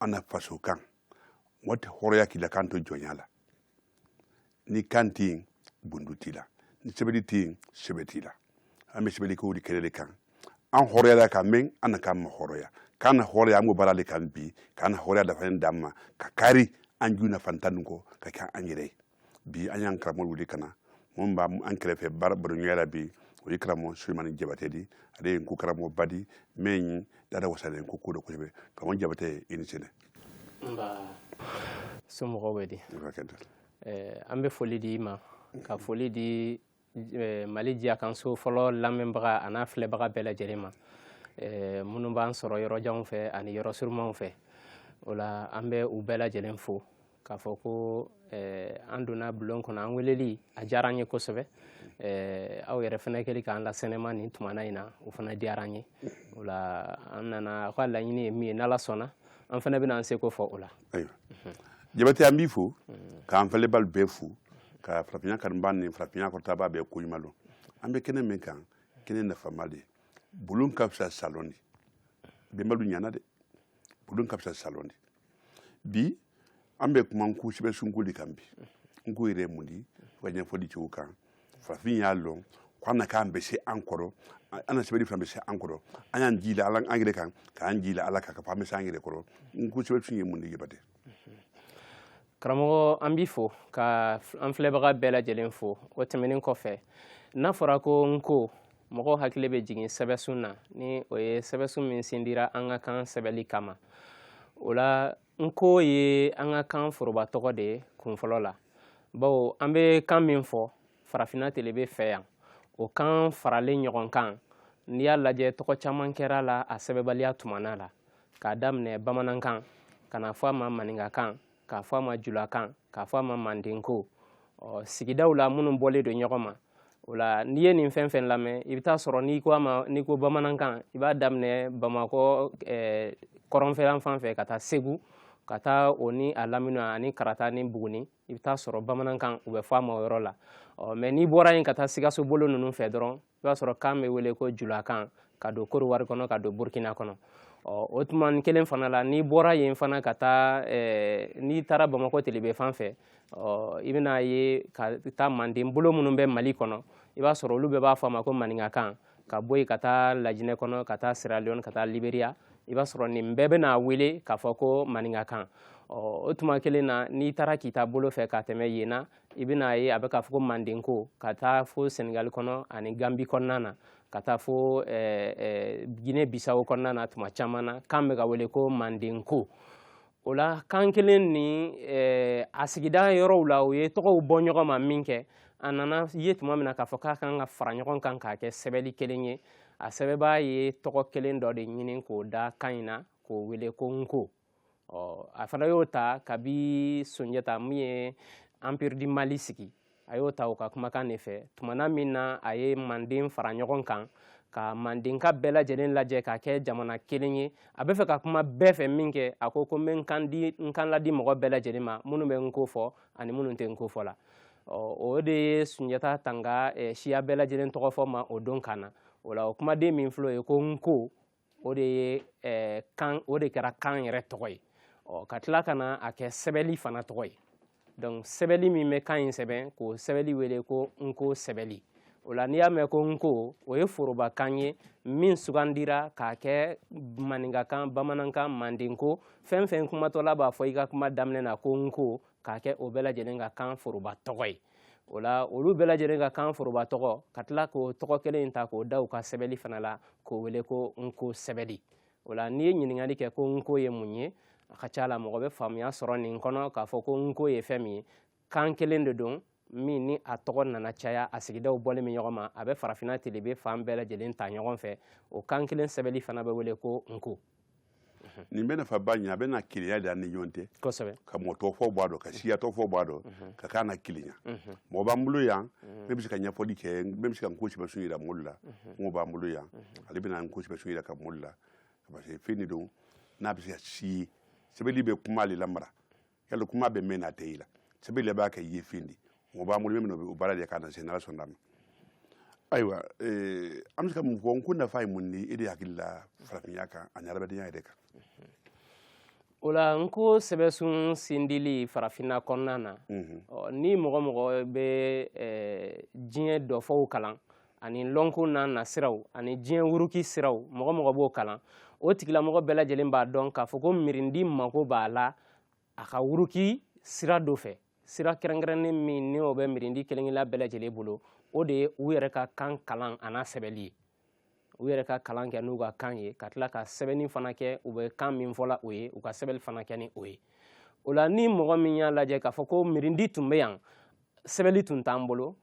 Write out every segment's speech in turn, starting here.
an na faso kan mɔgɔ tɛ hɔrɔya k'i la kan to jɔnya la ni kan tɛ yen bundu t'i la ni sɛbɛli tɛ yen sɛbɛ t'i la an bɛ sɛbɛli ko de kɛlɛ de kan an hɔrɔyala ka mɛn an na kan ma hɔrɔya kan na hɔrɔya an b'o baara de kan bi k'an na hɔrɔya dafalen d'an ma ka kari an ju nafantan nin kɔ ka kɛ an yɛrɛ ye bi an y'an karamɔgɔ wuli ka na mɔgɔ min b'an kɛrɛfɛ baro baroɲɔgɔnya la bi o ye karamɔgɔ sulemani jabate di ale ye nko karamɔgɔba di min ye dada wasalen nko ko dɔ kosɛbɛ karamɔgɔ jabate ye i ni sɛnɛ nba somɔgɔw bɛ di an bɛ foli di i ma ka foli di eh, mali jiya kan so fɔlɔ lamɛnbaga an'a filɛbaga bɛɛ lajɛlen ma eh, minnu b'an sɔrɔ yɔrɔjanw fɛ ani yɔrɔ surumanw fɛ o la an bɛ u bɛɛ lajɛlen fo k'a fɔ ko eh, an donna bulon kɔnɔ an weleli a diyara an ye kosɛbɛ aw yɛrɛ fana kɛli k'an lasɛnɛma nin tumana in na o fana diyara an ye o la an nana aw ka laɲini ye min ye n'ala sɔnna an fana bɛna an seko fɔ o la ayiwa jabate an b'i fo k'an filɛbaa lu bɛɛ fo ka farafinya kanubaa ni farafinya kɔrɔtabaa bɛɛ ko ɲuman dɔn an bɛ kɛnɛ min kan kɛnɛ nafama de bulon ka fisa salɔn di bɛnba lu ɲana de bulon ka fisa salɔn di bi an bɛ kuma nko sɛbɛsun ko de kan bi nko yɛrɛ ye mun di fo ka ɲɛfɔli cogo kan farafin y'a lɔn ko an na kan bɛ se an kɔrɔ an na sɛbɛli fana bɛ se an kɔrɔ an y'an jii la ala an yɛrɛ kan k'an jii la ala kan k'a fɔ an bɛ se an yɛrɛ kɔrɔ nko sɛbɛsun ye mun di jabate karamɔgɔ an b'i fo ka an filɛbaga bɛɛ lajɛlen fo o tɛmɛnen kɔfɛ n'a fɔra ko nko mɔgɔw hakili bɛ jigin sɛbɛsun na ni o ye sɛbɛsun min sindira an ka kan sɛbɛli kama o la nko ye an ka kan foroba tɔgɔ de ye kunfɔlɔ la bawo an bɛ kan min fɔ farafinna telebe fɛ yan o kan faralen ɲɔgɔn kan n'i y'a lajɛ tɔgɔ caman kɛr'a la a sɛbɛbaliya tumana la k'a daminɛ bamanankan ka n'a fɔ a ma maninkakan k'a fɔ a ma julakan k'a fɔ a ma mandenko sigidaw la minnu bɔlen don ɲɔgɔn ma o la n'i ye nin fɛn fɛn lamɛn i bɛ t'a sɔrɔ n'i ko a ma n'i ko bamanankan i b'a daminɛ bamakɔ eh, kɔrɔnfɛlan fan fɛ ka taa segu ka taa o ni a lamini ani kaarata ni buguni i bɛ t'a sɔrɔ bamanankan u bɛ fɔ a ma o yɔrɔ la ɔ mɛ n'i bɔra yen ka taa sikaso bolo ninnu fɛ dɔrɔn i b'a sɔrɔ kan bɛ wele ko julakan ka don kɔdiwari kɔnɔ ka don burkina kɔnɔ ɔ o tuma kelen fana la n'i bɔra yen fana ka taa eh, n'i taara bamakɔ telebe fan fɛ ɔ i bɛna ye ka taa manden bolo minnu bɛ mali kɔnɔ i b'a sɔrɔ olu bɛɛ b'a fɔ a ma ko maninkakan ka bɔ yen ka taa lajinɛ kɔnɔ ka taa sierra leone ka taa liberia i b'a sɔrɔ nin bɛɛ bɛna wele k'a fɔ ko maninkakan o tuma kelen na n'i taara k'i ta bolo fɛ ka tɛmɛ yen na i bɛna ye a bɛ k'a fɔ ko mandenko ka taa fo senegali kɔnɔ ani gambi kɔnɔna na ka taa fo gine bisawo kɔnɔna na tuma caman na kan bɛ ka wele ko mandenko o la kan kelen ni eh, a sigida yɔrɔw la o ye tɔgɔw bɔ ɲɔgɔn ma min kɛ a nana ye tuma min na k'a fɔ k'a kan ka fara ɲɔgɔn kan k'a kɛ sɛbɛli kelen ye a sɛbɛbaa ye tɔgɔ kelen dɔ de ɲini k'o da kan in na k'o wele ko nko ɔ a fana y'o ta kabi sunjata min ye empire du mali sigi a y'o ta o ka kumakan de fɛ tumana min na a ye manden fara ɲɔgɔn kan ka mandenka bɛɛ lajɛlen lajɛ k'a kɛ jamana kelen ye a bɛ fɛ ka kuma bɛɛ fɛ min kɛ a ko ko n bɛ n kan di n kan ladi mɔgɔ bɛɛ lajɛlen ma minnu bɛ n ko fɔ ani minnu tɛ n ko fɔ la o de ye sunjata tanga siya bɛɛ lajɛlen tɔgɔ fɔ ma o don kan na o la o kumaden min filɛ o ye ko n ko o de ye eh, kan o de kɛra kan yɛrɛ tɔgɔ ye ɔ ka tila ka na a kɛ sɛbɛli fana tɔgɔ ye donc sɛbɛli min bɛ kan in sɛbɛn k'o sɛbɛli wele ko nko sɛbɛli o la n'i y'a mɛn ko nko o ye forobakan ye min sugandira k'a kɛ maninkakan bamanankan mandenko fɛn fɛn kumatɔla b'a fɔ i ka kuma daminɛ na ko nko k'a kɛ o bɛɛ lajɛlen ka kan foroba tɔgɔ ye o la olu bɛɛ lajɛlen ka kan foroba tɔgɔ ka tila k'o tɔgɔ kelen in ta k'o da u ka sɛbɛli fana la k'o wele ko nko sɛbɛli o la n'i ye ɲininkali kɛ ko nko ye mun ye a ka ca la mɔgɔ bɛ faamuya sɔrɔ nin kɔnɔ k'a fɔ ko nko ye fɛn min ye kan kelen de don min ni a tɔgɔ nana caya a sigidaw bɔlen bɛ ɲɔgɔn ma a bɛ farafinna telebe fan bɛɛ lajɛlen ta ɲɔgɔn fɛ o kan kelen sɛbɛli fana bɛ wele ko nko nin bɛ nafa ba ɲɛ a bɛ na kelenya de an ni ɲɔgɔn tɛ kosɛbɛ ka mɔɔ tɔɔ fɔ bɔ a dɔ ka siya tɔɔ fɔ bɔ a dɔ ka kan na kelenya mɔgɔ b'an bolo yan min bɛ se ka ɲɛfɔli kɛ min bɛ se ka n ko sɛbɛsun yira mɔɔlu la mɔgɔ b'an bolo yan ale bɛna n ko sɛbɛsun yiraka mɔɔlu la parce que fɛn de don n'a bɛ se ka si sɛbɛli bɛ kuma le lamara yali kuma bɛ mɛn n'a tɛ i la sɛbɛli le b'a kɛ yefen di mɔgɔ b'an bolo min o baara de k'a na se n'ala sɔnna ma ayiwa eh, an bɛ se ka mun fɔ n ko nafa ye mun di e de hakili la farafinya kan ani adamadenya yɛrɛ kan o la n ko sɛbɛsun sindili farafinna kɔnɔna na mhm. ni mɔgɔ mɔgɔ bɛ eh, diɲɛ dɔfɔw kalan ani lɔnko n'a nasiraw ani diɲɛ wuruki siraw mɔgɔ mɔgɔ b'o kalan o tigilamɔgɔ bɛɛ lajɛlen b'a dɔn k'a fɔ ko mirindi mako b'a la a ka wuruki sira dɔ fɛ sira kɛrɛnkɛrɛnnen min ni o bɛ mirindi kelen-kelenna bɛɛ lajɛlen bolo o de ye u yɛrɛ ka kan kalan an'a sɛbɛli ye u yɛrɛ ka kalan kɛ n'u ka kan ye ka tila ka sɛbɛnni fana kɛ u bɛ kan min fɔla o ye u ka sɛbɛnni fana kɛ ni o ye o la ni mɔgɔ min y'a lajɛ k'a fɔ ko mirindi tun bɛ yan sɛbɛnni tun t'an bolo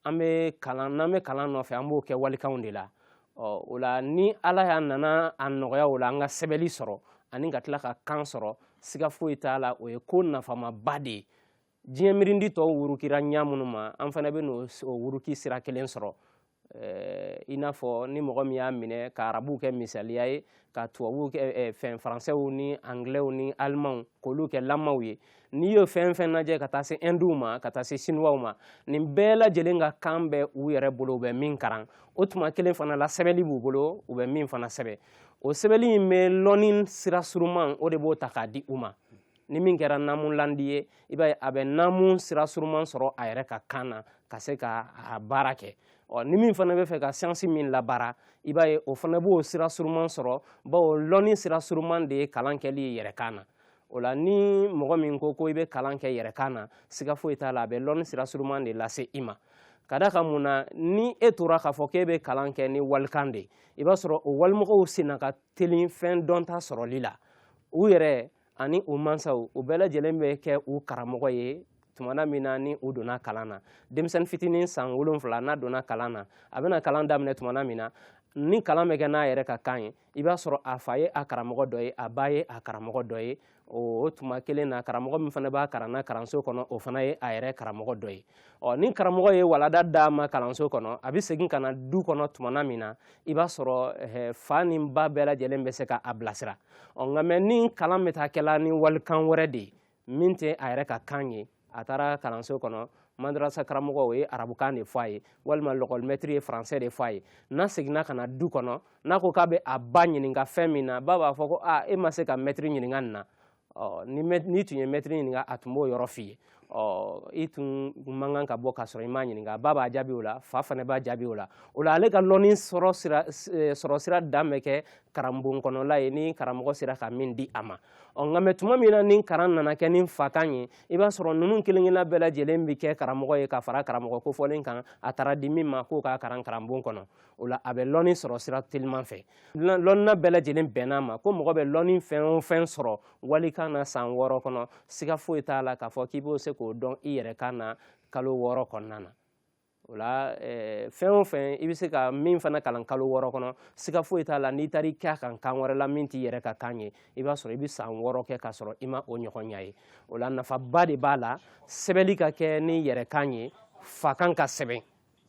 an bɛ kalan n'an bɛ kalan nɔfɛ an b'o kɛ walikanw de la ɔ o la ni ala y'a nana a nɔgɔya o la an ka sɛbɛnli sɔrɔ ani ka tila ka kan sɔrɔ siga foyi t'a la o ye ko nafamaba de ye diɲɛ mirindi tɔw wurukira ɲa minnu ma an fana bɛn'o wuruki sira kelen sɔrɔ i n'a fɔ ni mɔgɔ min y'a minɛ ka arabuw kɛ misaliya ye ka tubabuw kɛ eh, fɛn faransɛw ni anglɛw ni alimanw k'olu kɛ lamaw ye n'i y'o fɛn fɛn lajɛ ka taa se ɛnduw ma ka taa se sinuwaw ma nin bɛɛ lajɛlen ka kan bɛ u yɛrɛ bolo u bɛ min karan o tuma kelen fana la sɛbɛnni b'u bolo u bɛ min fana sɛbɛn o sɛbɛnni in bɛ lɔnni sira suruman o de b'o ta k'a di u ma ni min kɛra naamulandi ye i b'a ye a bɛ naamu sira suruman sɔrɔ a yɛrɛ ka kan na ka se ka a baara kɛ ɔ ni min fana bɛ fɛ ka siyansi min labaara i b'a ye o fana b'o sira suruman sɔrɔ bawo lɔnni sira suruman de ye kalan kɛli ye yɛrɛ kan na o la ni mɔgɔ min ko ko i bɛ kalan kɛ yɛrɛ kan na siga foyi t'a la a bɛ lɔnni sira suruman de lase i ma k'a da kan mun na ni e tora k'a fɔ k'e bɛ kalan kɛ ni walikan de ye i b'a sɔrɔ o walimɔgɔw senna ka teli fɛn dɔnta sɔrɔli la u yɛrɛ ani u mansaw u bɛɛ lajɛlen bɛ kɛ u karamɔgɔ ye tumana min na ni u donna kalan na denmisɛnnin fitinin san wolonfila n'a donna kalan na a bɛna kalan daminɛ tumana min na ni kalan bɛ kɛ n'a yɛrɛ ka kan ye i b'a sɔrɔ a fa ye a karamɔgɔ dɔ ye a ba ye a karamɔgɔ dɔ ye o tuma kelen na karamɔgɔ min fana b'a kalan na kalanso kɔnɔ o fana ye a yɛrɛ karamɔgɔ dɔ ye ɔ ni karamɔgɔ ye walada d'a ma kalanso kɔnɔ a bɛ segin ka na du kɔnɔ tumana min na i b'a sɔrɔ fa ni ba bɛɛ lajɛlen bɛ se ka a bilasira ɔ nka mɛ ni kalan bɛ taa kɛla ni walikan wɛrɛ de ye min tɛ a yɛrɛ ka kan ye a taara kalanso kɔnɔ madarasa karamɔgɔ o ye arabukan de fɔ a ye walima lɔkɔlimɛtiri ye faransɛ de fɔ a ye n'a seginna ka na du kɔnɔ n'a ko k'a bɛ a ba ɲininka fɛn min na ba b'a fɔ ko aa e ma se ka mɛtiri ɲininka nin na ɔ n'i tun ye mɛtiri ɲininka a tun b'o yɔrɔ f'i ye ɔ i tun man kan ka bɔ k'a sɔrɔ i m'a ɲininka ba b'a jaabi o la fa fana b'a jaabi o la o la ale ka lɔnni sɔrɔ sira dan bɛ kɛ karanbon kɔnɔla ye ni karamɔgɔ sera ka min di a ma ɔ nka mɛ tuma min na ni karan nana kɛ ni fakan ye i b'a sɔrɔ ninnu kelen-kelenna bɛɛ lajɛlen bɛ kɛ karamɔgɔ ye ka fara karamɔgɔ kofɔlen kan a taara di min ma k'o k'a karan karanbon kɔnɔ o la a bɛ lɔnni sɔrɔ sira teliman fɛ lɔnna bɛɛ lajɛlen bɛnn'a ma ko mɔgɔ bɛ lɔnni fɛn o fɛn sɔrɔ walikan na san wɔɔrɔ kɔnɔ siga foyi t'a la k'a fɔ k'i b'o se k'o dɔn i yɛrɛ kan na kalo wɔɔrɔ kɔnɔna na o la fɛn o fɛn i bɛ se ka min fana kalan kalo wɔɔrɔ kɔnɔ siga foyi t'a la n'i taara i kɛ a kan kan wɛrɛ la min t'i yɛrɛ ka kan ye i b'a sɔrɔ i bɛ san wɔɔrɔ kɛ k'a sɔrɔ i ma o ɲɔgɔn ɲɛ ye o la nafaba de b'a la sɛbɛnni ka kɛ n'i yɛrɛ kan ye fakan ka sɛbɛn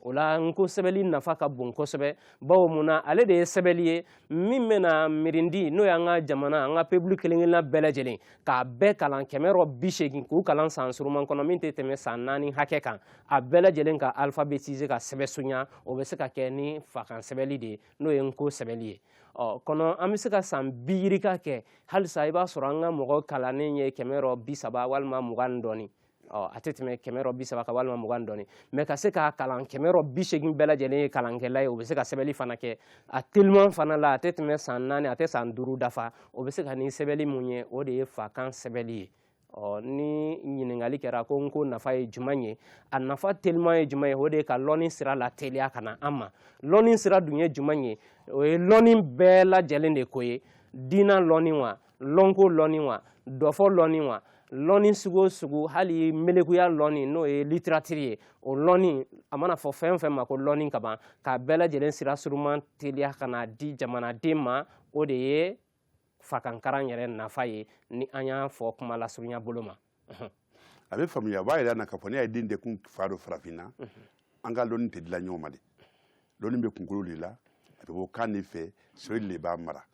o la nko sɛbɛli nafa ka bon kosɛbɛ bawo mun na ale de ye sɛbɛli ye min bɛna mirindi n'o y'an ka jamana an ka pebulu kelen-kelenna bɛɛ lajɛlen k'a bɛɛ kalan kɛmɛ rɔ bi segin k'u kalan san suruman kɔnɔ min tɛ tɛmɛ san naani hakɛ kan a bɛɛ lajɛlen ka alfabetize ka sɛbɛsunya o bɛ se ka kɛ ni fakan sɛbɛli de ye n'o ye nko sɛbɛli ye ɔ kɔnɔ an bɛ se ka san bi yirika kɛ halisa i b'a sɔrɔ an ka mɔgɔ kalannen ye kɛmɛ rɔ bi saba walima mugan ni dɔɔni ɔ a tɛ tɛmɛ kɛmɛ rɔ bi saba kan walima mugan dɔɔni mɛ ka se k'a kalan kɛmɛ rɔ bi segin bɛɛ lajɛlen ye kalankɛla ye o bɛ se ka sɛbɛli fana kɛ a teliman fana la a tɛ tɛmɛ san naani a tɛ san duuru dafa o bɛ se ka ni sɛbɛli mun ye o de ye fakan sɛbɛli ye ɔ ni ɲininkali kɛra ko nko nafa ye juman ye a nafa teliman ye juman ye o de ye ka lɔnni sira lateliya ka na an ma lɔnni sira dun ye juman ye o ye lɔnni bɛɛ lajɛlen de ko ye diina lɔnni wa lɔnko lɔnni wa dɔfɔ lɔnni wa lɔnni sugu o sugu hali melekuya lɔnni n'o ye litiratiri ye o lɔnni a mana fɔ fɛn o fɛn ma ko lɔnni ka ban k'a bɛɛ lajɛlen sira suruman teliya ka n'a di jamanaden ma o de ye fakankaran yɛrɛ nafa ye ni an y'a fɔ kuma lasurunya bolo ma a bɛ faamuya a b'a yɛrɛ na k'a fɔ ne ye den tɛ kun fa dɔ farafinna an ka lɔnni tɛ dila ɲɔgɔn ma de lɔnni bɛ kunkolo de la a bɛ bɔ kan de fɛ sɛbɛ de b'a mara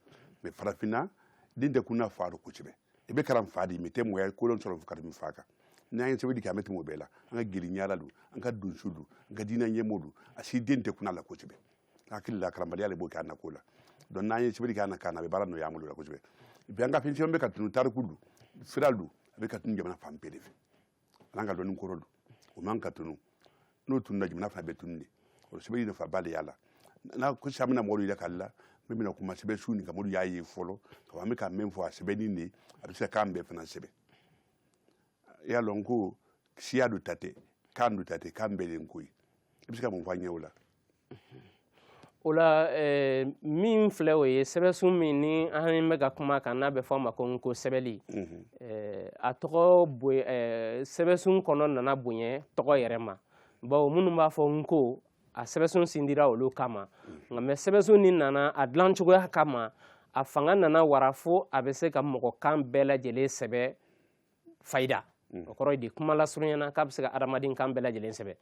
mɛ farafinna den tɛ kun a fa dɔ kosɛbɛ i bɛ kalan fa di mɛ tɛ mɔgɔya kolon sɔrɔ ka tɛmɛ fa kan n'an ye sɛbɛnni kɛ an bɛ tɛmɛ o bɛɛ la an ka jeliɲara don an ka donso don an ka diinɛ ɲɛmɔgɔ don a si den tɛ kun a la kosɛbɛ hakili la karamɔgɔya de b'o kɛ a nako la donc n'an ye sɛbɛli kɛ an na kan na a bɛ baara nɔgɔya an bolo la kosɛbɛ bi an ka fɛn caman bɛ ka tunu tariku don sira don a bɛ ka tunu jamana fan bɛɛ de fɛ an an ka dɔnni kɔrɔ don o man ka tunu n'o tununa jamana fana bɛ tunu de o sɛbɛli nafaba de y'a la n'a ko sisan an bɛna mɔgɔw yɛrɛ k'ale la min bɛna kuma sɛbɛnsun nin kan mɔdu y'a ye fɔlɔ ka an bɛ ka min fɔ a sɛbɛnni de a bɛ se ka kan bɛɛ fana sɛbɛn i y'a lɔn ko siya dɔ ta tɛ kan dɔ ta tɛ kan bɛɛ de ko ye i bɛ se ka mun fɔ an ɲɛ o la o la eh, min filɛ o ye sɛbɛsun min ni an bɛ ka kuma kan n'a bɛ fɔ a ma ko nko sɛbɛli mhm. eh, a tɔgɔ eh, sɛbɛsun kɔnɔ nana bonya tɔgɔ yɛrɛ ma bawo minnu b'a fɔ n ko a sɛbɛsun sindira olu kama mhm. nka mɛ sɛbɛsun nin nana a dilan cogoya kama a fanga nana wara fo a bɛ se ka mɔgɔ kan bɛɛ lajɛlen sɛbɛ fayida mm. o kɔrɔ ye di kuma lasurunyana k'a bɛ se ka adamaden kan bɛɛ lajɛlen sɛbɛn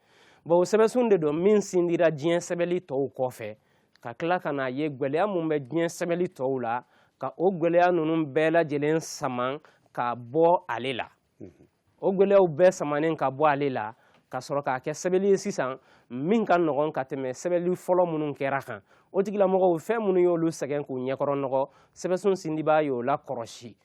bawo sɛbɛnsun de don min sindira diɲɛ sɛbɛnli tɔw kɔfɛ ka tila ka n'a ye gwɛlɛya mun bɛ diɲɛ sɛbɛnli tɔw la ka o gwɛlɛya ninnu bɛɛ lajɛlen saman ka bɔ ale la mm-hmm. o gwɛlɛyaw bɛɛ samanen ka bɔ ale la ka sɔrɔ k'a kɛ sɛbɛnli ye sisan min ka nɔgɔn ka tɛmɛ sɛbɛnli fɔlɔ minnu kɛra kan o tigilamɔgɔw fɛn minnu y'olu sɛgɛn k'u ɲɛkɔrɔ nɔgɔ sɛbɛnsun sindibaa y'o lakɔrɔsi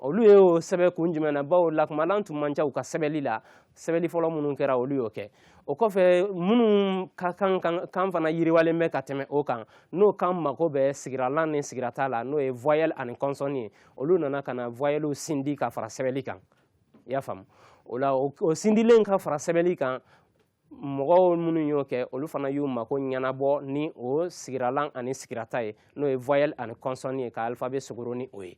olu ye o sɛbɛn kun jumɛn na bawo lakumalan tun man ca u ka sɛbɛnli la sɛbɛnli fɔlɔ minnu kɛra olu y'o kɛ o kɔfɛ minnu ka kan fana yiriwalen bɛ ka tɛmɛ o kan n'o kan mago bɛ sigiralan ni sigirata la n'o ye voyelle ani consonne ye olu nana ka na voyellew sindi ka fara sɛbɛnli kan i y'a faamu o la o sindilen ka fara sɛbɛnli kan mɔgɔw minnu y'o kɛ olu fana y'u mako ɲɛnabɔ ni o sigiralan ani sigirata ye n'o ye voyelle ani consonne ye ka alphabet sogoro ni o ye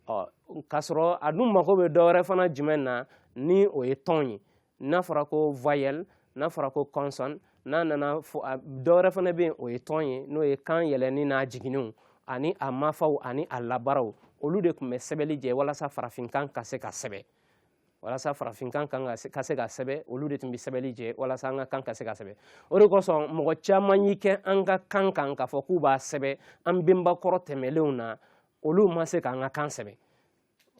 ɔ k'a sɔrɔ a dun mako bɛ dɔwɛrɛ fana jumɛn na ni o ye tɔn ye n'a fɔra ko voyelle n'a fɔra ko consonne n'a nana fo dɔwɛrɛ fana bɛ yen o ye tɔn ye n'o ye kan yɛlɛnni n'a jiginniw ani a mafaw ani a labaraw olu de tun bɛ sɛbɛnli jɛ walasa farafinkan ka se ka sɛbɛn walasa farafinkan ka se ka sɛbɛ olu de tun bɛ sɛbɛli jɛ walasa an ka kan ka se ka sɛbɛ o de kosɔn mɔgɔ caman y'i kɛ an ka kan kan k'a fɔ k'u b'a sɛbɛ an benba kɔrɔ tɛmɛlenw na olu ma se k'an ka kan sɛbɛ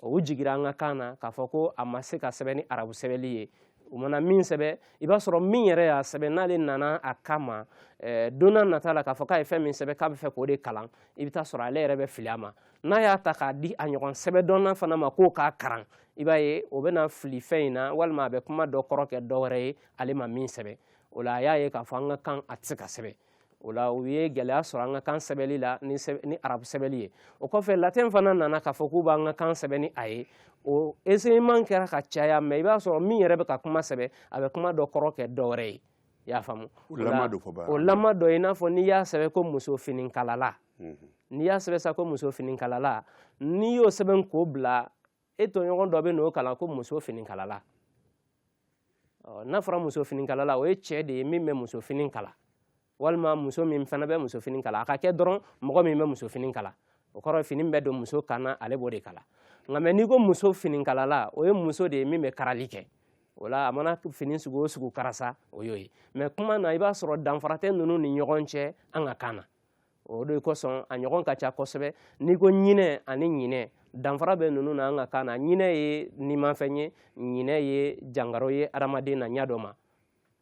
u jigira an ka kan na k'a fɔ ko a ma se ka sɛbɛ ni arabu sɛbɛli ye u mana min sɛbɛ i b'a sɔrɔ min yɛrɛ y'a sɛbɛ n'ale nana a kama eh, don nata la k'a fɔ k'a ye fɛn min sɛbɛ k'a bɛ fɛ k'o de kalan i bɛ taa sɔrɔ ale yɛrɛ bɛ fili a ma n'a y'a ta k'a di a ɲɔgɔn sɛbɛdɔnna fana ma k'o k'a karan i b'a ye o bɛna fili fɛn in na walima a bɛ kuma dɔ kɔrɔ kɛ dɔ wɛrɛ ye ale ma min sɛbɛn o la a y'a ye k'a fɔ an ka kan a tɛ se ka sɛbɛn o la u ye gɛlɛya sɔrɔ an ka kan sɛbɛnli la ni ni arabu sɛbɛnli ye o kɔfɛ latin fana nana k'a fɔ k'u b'an ka kan sɛbɛn ni a ye o essayement kɛra ka caya mais i b'a sɔrɔ min yɛrɛ bɛ ka kuma sɛbɛn a bɛ kuma dɔ kɔrɔ kɛ dɔ wɛrɛ ye i y'a faamu o lama dɔ i n'a fɔ n'i y'a sɛbɛn ko muso finikalala n'i y'a sɛbɛn sa ko muso finikalala n'i y'o sɛbɛn k'o bila e tɔɲɔgɔn dɔ bɛ n'o kalan ko muso fini kalala n'a fɔra muso fini kalala o ye cɛ de ye min bɛ muso fini kala walima muso min fana bɛ muso fini kala a ka kɛ dɔrɔn mɔgɔ min bɛ muso fini kala o kɔrɔ fini bɛ don muso kan na ale b'o de kala nka mais n'i ko muso finikalala o ye muso de ye min bɛ karali kɛ o la a mana fini sugu o sugu kara sa o y'o ye mais kuma na i b'a sɔrɔ danfara tɛ ninnu ni ɲɔgɔn cɛ an ka kan na o de kosɔn a ɲɔgɔn ka ca kosɛbɛ n'i ko ɲinɛ ani ɲinɛ danfara bɛ ninnu na an ka kan na ɲinɛ ye nimafɛn ye ɲinɛ ye jangaro ye adamaden na ɲɛ dɔ ma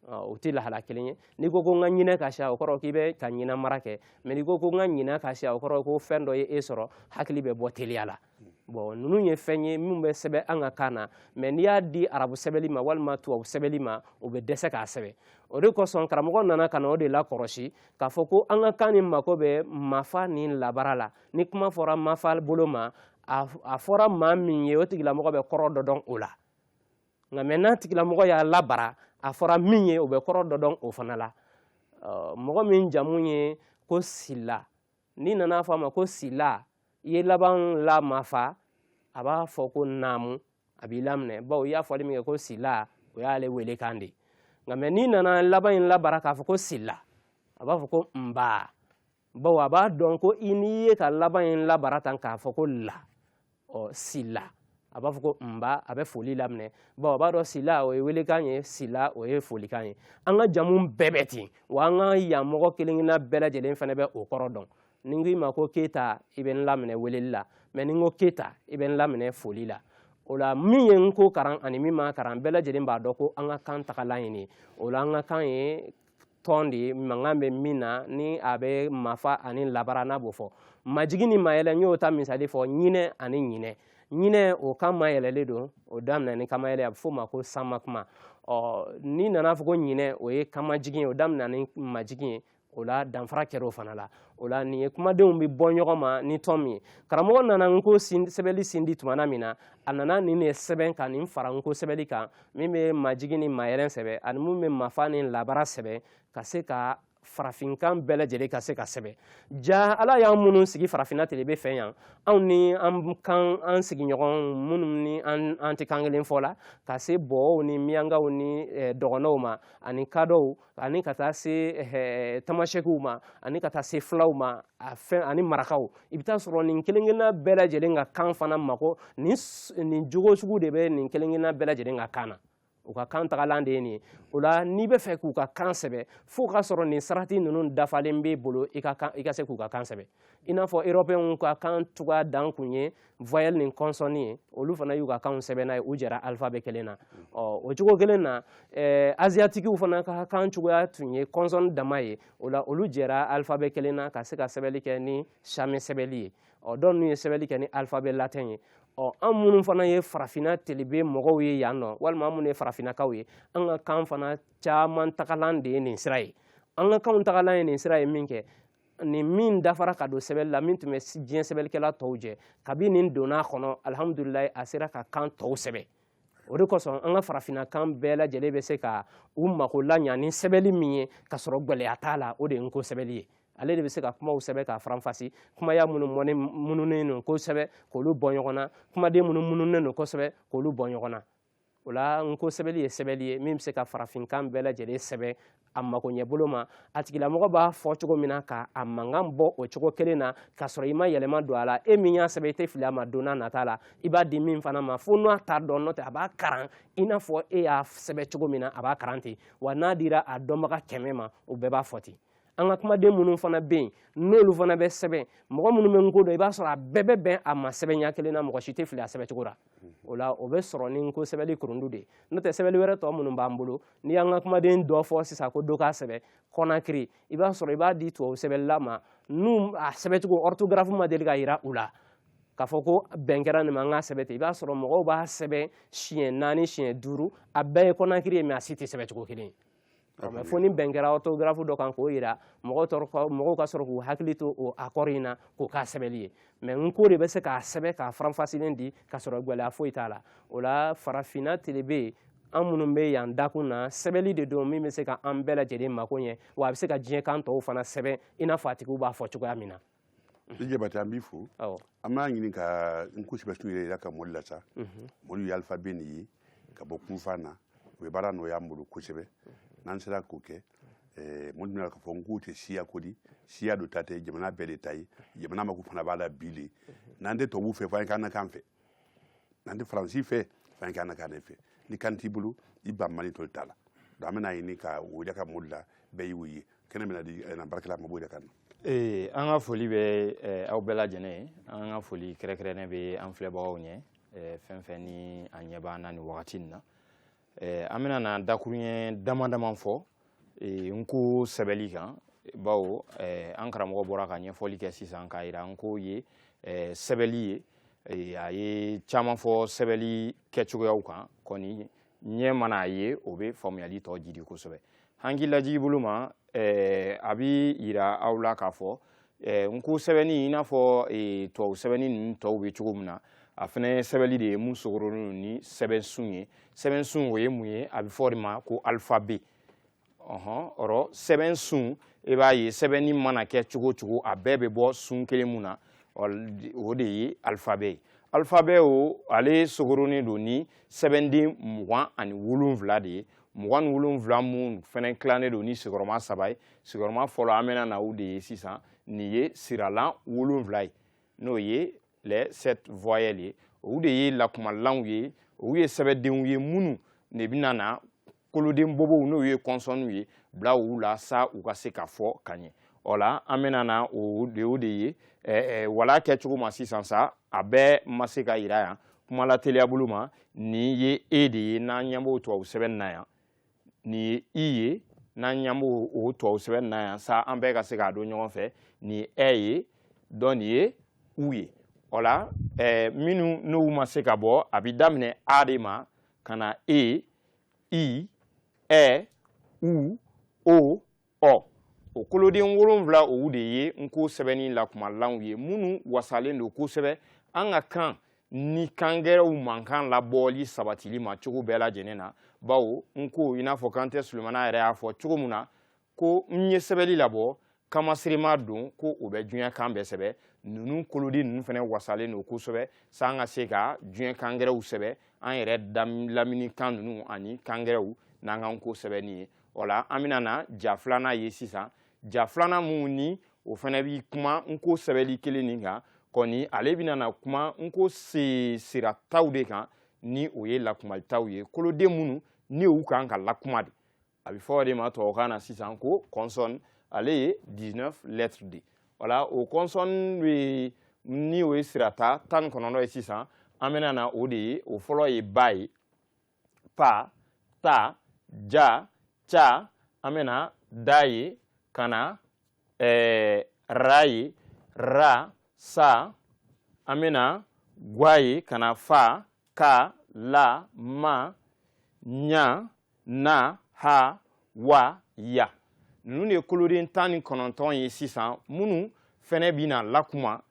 o tɛ lahala kelen ye n'i ko ko n ka ɲinɛ ka siya o kɔrɔ k'i bɛ ka ɲinɛ mara kɛ mais n'i ko ko n ka ɲinɛ ka siya o kɔrɔ ko fɛn dɔ ye e sɔrɔ hakili bɛ bɔ teliya la bɔn ninnu ye fɛn ye min bɛ sɛbɛn an ka kan na mɛ n'i y'a di arabu sɛbɛnli ma walima tubabu sɛbɛnli ma o bɛ dɛsɛ k'a sɛbɛn o de kosɔn karamɔgɔ nana ka na o de lakɔrɔsi k'a fɔ ko an ka kan nin mako bɛ mafa ni labara la ni kuma fɔra mafa bolo ma a fɔra maa min ye o tigilamɔgɔ bɛ kɔrɔ dɔ dɔn o la nka mɛ n'a tigilamɔgɔ y'a labara a fɔra min ye o bɛ kɔrɔ dɔ dɔn o fana la mɔgɔ min jamu ye ko sila n'i nana fɔ a ma ko sila i ye laban la mafa a b'a fɔ ko naamu a b'i laminɛ bawo i y'a fɔli min kɛ ko sila o y'ale wele kan de nka mɛ n'i nana laban in labara k'a fɔ ko sila a b'a fɔ ko nba bawo a b'a dɔn ko i n'i ye ka laban in labara tan k'a fɔ ko la ɔ sila a b'a fɔ ko nba a bɛ foli laminɛ bawo a b'a dɔn sila o ye welekan ye sila o ye folikan ye an ka jamu bɛɛ bɛ ten wa an ka yan mɔgɔ kelenkelenna bɛɛ lajɛlen fana bɛ o kɔrɔ dɔn ni n k'i ma ko keyita i bɛ n laminɛ weleli la mɛ ni n ko keyita i bɛ n laminɛ foli la o la min ye nko karan ani min ma karan bɛɛ lajɛlen b'a dɔn ko an ka kan tagalan ye nin ye o la an ka kan ye tɔn de ye mankan bɛ min na ni a bɛ mafa ani labara n'a b'o fɔ majigi ni mayɛlɛ n y'o ta misali fɔ ɲinɛ ani ɲinɛ ɲinɛ o kan mayɛlɛlen don o daminɛ ni kanmayɛlɛ a bɛ f'o ma ko sanma kuma ɔ n'i nana fɔ ko ɲinɛ o ye kanmajigin ye o daminɛ ni majigin ye o la danfara kɛra o fana la o la nin ye kumadenw bɛ bɔ ɲɔgɔn ma ni tɔn min ye karamɔgɔ nana nko sɛbɛnli sindi tumana min na a nana nin de sɛbɛn ka nin fara nko sɛbɛnli kan min bɛ majigi ni mayɛlɛ sɛbɛ ani min bɛ mafa ni labara sɛbɛ ka se ka farafinkan bɛɛ lajɛlen ka se ka sɛbɛ ja ala y'an minnu sigi farafinna telebe fɛ yan anw ni an sigiɲɔgɔn minnu ni an tɛ kan kelen fɔ la ka se bɔɔw ni miyankaw ni dɔgɔnɔw ma ani kadɔw ani ka taa se eh, tamasɛkiw ma ani ka taa se fulaw ma ani marakaw i bɛ taa sɔrɔ nin kelenkelenna bɛɛ lajɛlen ka kan fana mako nin jogo sugu de bɛ nin kelenkelenna bɛɛ lajɛlen ka kan na u ka kan tagalan de ye nin ye o la n'i bɛ fɛ k'u ka kan sɛbɛ fo ka sɔrɔ nin sarati ninnu dafalen b'e bolo i ka se k'u ka kan sɛbɛ i n'a fɔ erɔpɛnw ka kan cogoya dan kun ye voyelle ni consonne ye olu fana y'u ka kanw sɛbɛn n'a ye u jɛra alphabet kelen na ɔ o cogo kelen na ɛɛ aziyatikiw fana ka kan cogoya tun ye consonne dama ye o la olu jɛra alphabet kelen na ka se ka sɛbɛnni kɛ ni sami sɛbɛnni ye ɔ dɔw n'u ye sɛbɛnni kɛ ni alphabet latin ye ɔ an minnu fana ye farafinna telebe mɔgɔw ye yan nɔ walima an minnu ye farafinnakaw ye an ka kan fana caman tagalan de ye nin sira ye an ka kanw tagalan ye nin sira ye min kɛ nin min dafara ka don sɛbɛli la min tun bɛ diɲɛ sɛbɛlikɛla tɔw jɛ kabi nin donna a kɔnɔ alihamudulilayi a sera ka kan tɔw sɛbɛ o de kosɔn an ka farafinna kan bɛɛ lajɛlen bɛ se ka u mako laɲa ni sɛbɛli min ye ka sɔrɔ gɛlɛya t'a la o de ye n ko sɛbɛli ye ale de bɛ se ka kumaw sɛbɛn k'a faranfasi kumaya minnu mɔni mununen don kosɛbɛ k'olu bɔ ɲɔgɔn na kumaden minnu mununen don kosɛbɛ k'olu bɔ ɲɔgɔn na o la n ko sɛbɛli ye sɛbɛli ye min bɛ se ka farafinkan bɛɛ lajɛlen sɛbɛn a makoɲɛbolo ma a tigilamɔgɔ b'a fɔ cogo min na ka a mankan bɔ o cogo kelen na k'a sɔrɔ i ma yɛlɛma don a la e min y'a sɛbɛn i tɛ fili a ma don n'a nata la i b'a di min fana ma fo n'a t'a dɔn n'o tɛ a b'a karan i n'a fɔ e y'a sɛbɛn cogo min na a b'a karan ten wa n'a dira a dɔnbaga kɛmɛ ma o bɛɛ b'a fɔ ten an ka kumaden minnu fana bɛ yen n'olu fana bɛ sɛbɛn mɔgɔ minnu bɛ n ko dɔn i b'a sɔrɔ a bɛɛ bɛ bɛn a ma sɛbɛnya kelen na mɔgɔ si tɛ fili a sɛbɛncogo la o la o bɛ sɔrɔ ni n ko sɛbɛli kurundu de ye n'o tɛ sɛbɛli wɛrɛ tɔ minnu b'an bolo n'i y'an ka kumaden dɔ fɔ sisan ko dɔ k'a sɛbɛ kɔnakiri i b'a sɔrɔ i b'a di tubabu sɛbɛlila ma n'u a sɛbɛcogo orthographe ma deli ka yira u la k'a fɔ ko bɛn kɛra nin ma an k'a sɛbɛ ten i b'a sɔrɔ mɔgɔw b'a sɛbɛn siɲɛ naani siɲɛ duuru a bɛɛ ye kɔnakiri ye mɛ a si tɛ sɛbɛcogo kelen ye mɛ fo ni bɛn kɛra orthographe dɔ kan k'o yira mɔgɔw ka sɔrɔ k'u hakili to o accord in na k'o k'a sɛbɛli ye mɛ n ko de bɛ se k'a sɛbɛ k'a faranfasilen di ka sɔrɔ gwɛlɛya foyi t'a la o la farafinna telebe an minnu bɛ yan dakun na sɛbɛli de don min bɛ se ka an bɛɛ lajɛlen mako ɲɛ wa a bɛ se ka diɲɛ kan tɔw fana sɛbɛn i n'a fɔ a tigiw b'a fɔ cogoya min na i jabate an b'i fo an b'a ɲini ka n ko sɛbɛsun yiraka mɔlu la sa mɔlu ye alifabe nin ye ka bɔ kunfan na o bɛ baara nɔgɔya an bolo kosɛbɛ n'an sera k'o kɛ mɔlu bɛn'a lɔn k'a fɔ n ko tɛ siya ko di siya dɔ ta tɛ jamana bɛɛ de ta ye jamana mako fana b'a la bi le n'an tɛ tubabuw fɛ fo an ye k'an na kan fɛ n'an tɛ faransi fɛ f'an kɛ an na kan ne fɛ ni kan t'i bolo i ban mali toli t'a la donc an bɛn'a ɲini ka o yiraka mɔlu la bɛɛ y'o ye kɛnɛ bɛna di an na baarakɛla ma b'o yiraka an na ee an ka foli bɛ eh, aw bɛɛ lajɛlen ye an ka foli kɛrɛnkɛrɛnnen bɛ an filɛbagaw ɲɛ eh, fɛn fɛn ni a ɲɛ b'an na nin wagati nin na eh, an bɛna na dakurunɲɛ dama dama fɔ eh, n ko sɛbɛli kan bawo eh, an karamɔgɔ bɔra ka ɲɛfɔli kɛ sisan k'a yira n ko ye eh, sɛbɛli ye eh, a ye caman fɔ sɛbɛli kɛcogoyaw kan kɔni ɲɛ mana a ye o bɛ faamuyali tɔ jidi kosɛbɛ hankilajigi bolo ma eh, a bi yira aw la k'a fɔ eh, n ko sɛbɛnni i n'a fɔ eh, tubabu sɛbɛnni ninnu tɔw bɛ cogo min na a fana ye sɛbɛnni de ye mun sogorolen don ni sɛbɛnsun ye sɛbɛnsun o ye mun ye a bɛ fɔ o de ma ko alifabe ɔhɔn ɔrɔ sɛbɛnsun i e b'a ye sɛbɛnni mana kɛ cogo o cogo a bɛɛ bɛ bɔ sun kelen mun na o de ye alifabe ye alifabe o ale sogorolen don ni sɛbɛnden mugan ani wolonwula de ye mugan ni wolonwula minnu fana tilannen don ni sigiyɔrɔma saba ye sigiyɔrɔma fɔlɔ an bɛna na u de ye sisan nin ye siralan wolonwula ye n'o ye les sept voyelles ye olu de ye lakumalanw ye olu ye sɛbɛdenw ye minnu de bɛna na koloden bobow n'o ye kɔnsɔnniw ye bila u la sa u ka se ka fɔ ka ɲɛ o la an bɛna na o de o de ye wala kɛcogo ma sisan sa a bɛɛ ma se ka yira yan kuma la teliyabolo ma nin ye e de ye n'an ɲɛ b'o tubabu sɛbɛn na yan nin ye i ye n'an ɲɛ b'o o tubabu sɛbɛn na yan sa an bɛɛ ka se k'a dɔn ɲɔgɔn fɛ nin ye ɛ ye dɔn nin ye u ye o la minnu n'u ma se ka bɔ a bɛ daminɛ a de ma ka na e i ɛ u o ɔ o koloden wolonwula owu de ye n ko sɛbɛnni lakumalanw ye minnu wasalen don kosɛbɛ an ka kan ni kangɛrɛw mankan labɔli sabatili ma cogo bɛɛ lajɛlen na bawo n ko i n'a fɔ kante sulemana yɛrɛ y'a fɔ cogo min na ko n ye sɛbɛli labɔ kanmaserema don ko o bɛ diɲɛ kan bɛɛ sɛbɛ ninnu koloden ninnu fana wasalen don kosɛbɛ sa an ka se ka diɲɛ kangɛrɛw sɛbɛ an yɛrɛ lamini kan ninnu ani kangɛrɛw n'an ka n ko sɛbɛnni ye o la an bɛna na ja filanan ye sisan ja filanan min ni o fana bi kuma n ko sɛbɛli kelen nin kan kɔni ale bɛna na kuma n ko sirataw de kan ni o ye lakumataw ye koloden minnu ni u kan ka lakuma de a bɛ fɔ o de ma tubabukan na sisan ko consonne ale ye 19 lettres de wala o consonne bɛ ni o ye sirata tan ni kɔnɔntɔn ye sisan an bɛna na o de ye o fɔlɔ ye ba ye pa ta ja ca an bɛna da ye ka na eh, ra ye ra sa an bɛna gwa ye ka na fa ka la ma ɲa na ha wa ya ninnu de ye koloden tan ni kɔnɔntɔn ye sisan minnu fɛnɛ bɛna lakuma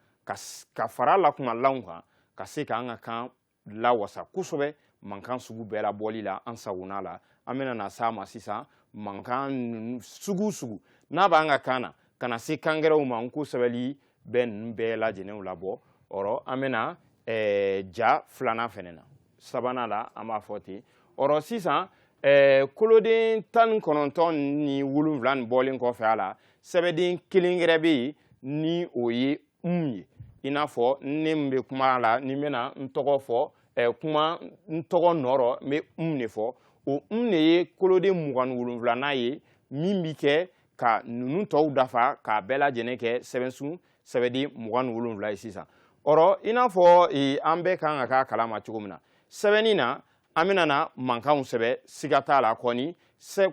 ka fara lakumalanw kan ka se k'an ka kan lawasa kosɛbɛ mankan sugu bɛɛ labɔli la an sagona la an bɛna na s'a ma sisan mankan sugu sugu n'a b'an ka kan na ka na se kangɛrɛw ma n ko sɛbɛli bɛ ninnu bɛɛ lajɛlen labɔ ɔrɔ an bɛna eh, ja filanan fɛnɛ na sabanan la an b'a fɔ ten ɔrɔ sisan eh, koloden tan ni kɔnɔntɔn ni wolonwula nin bɔlen kɔfɛ a la sɛbɛden kelen gɛrɛ bɛ yen ni o ye n ye i n'a fɔ ne min bɛ kuma la ni n bɛna n tɔgɔ fɔ ɛ kuma n tɔgɔ nɔrɔ n bɛ n de fɔ o n de ye koloden mugan ni wolonwulanan ye min bɛ kɛ ka ninnu tɔw dafa k'a bɛɛ lajɛlen kɛ sɛbɛsun sɛbɛden mugan ni wolonwula ye sisan ɔrɔ i n'a fɔ e, an bɛɛ kan ka k'a kalama cogo min na sɛbɛnni na an bɛna na mankanw sɛbɛ siga t'a la kɔni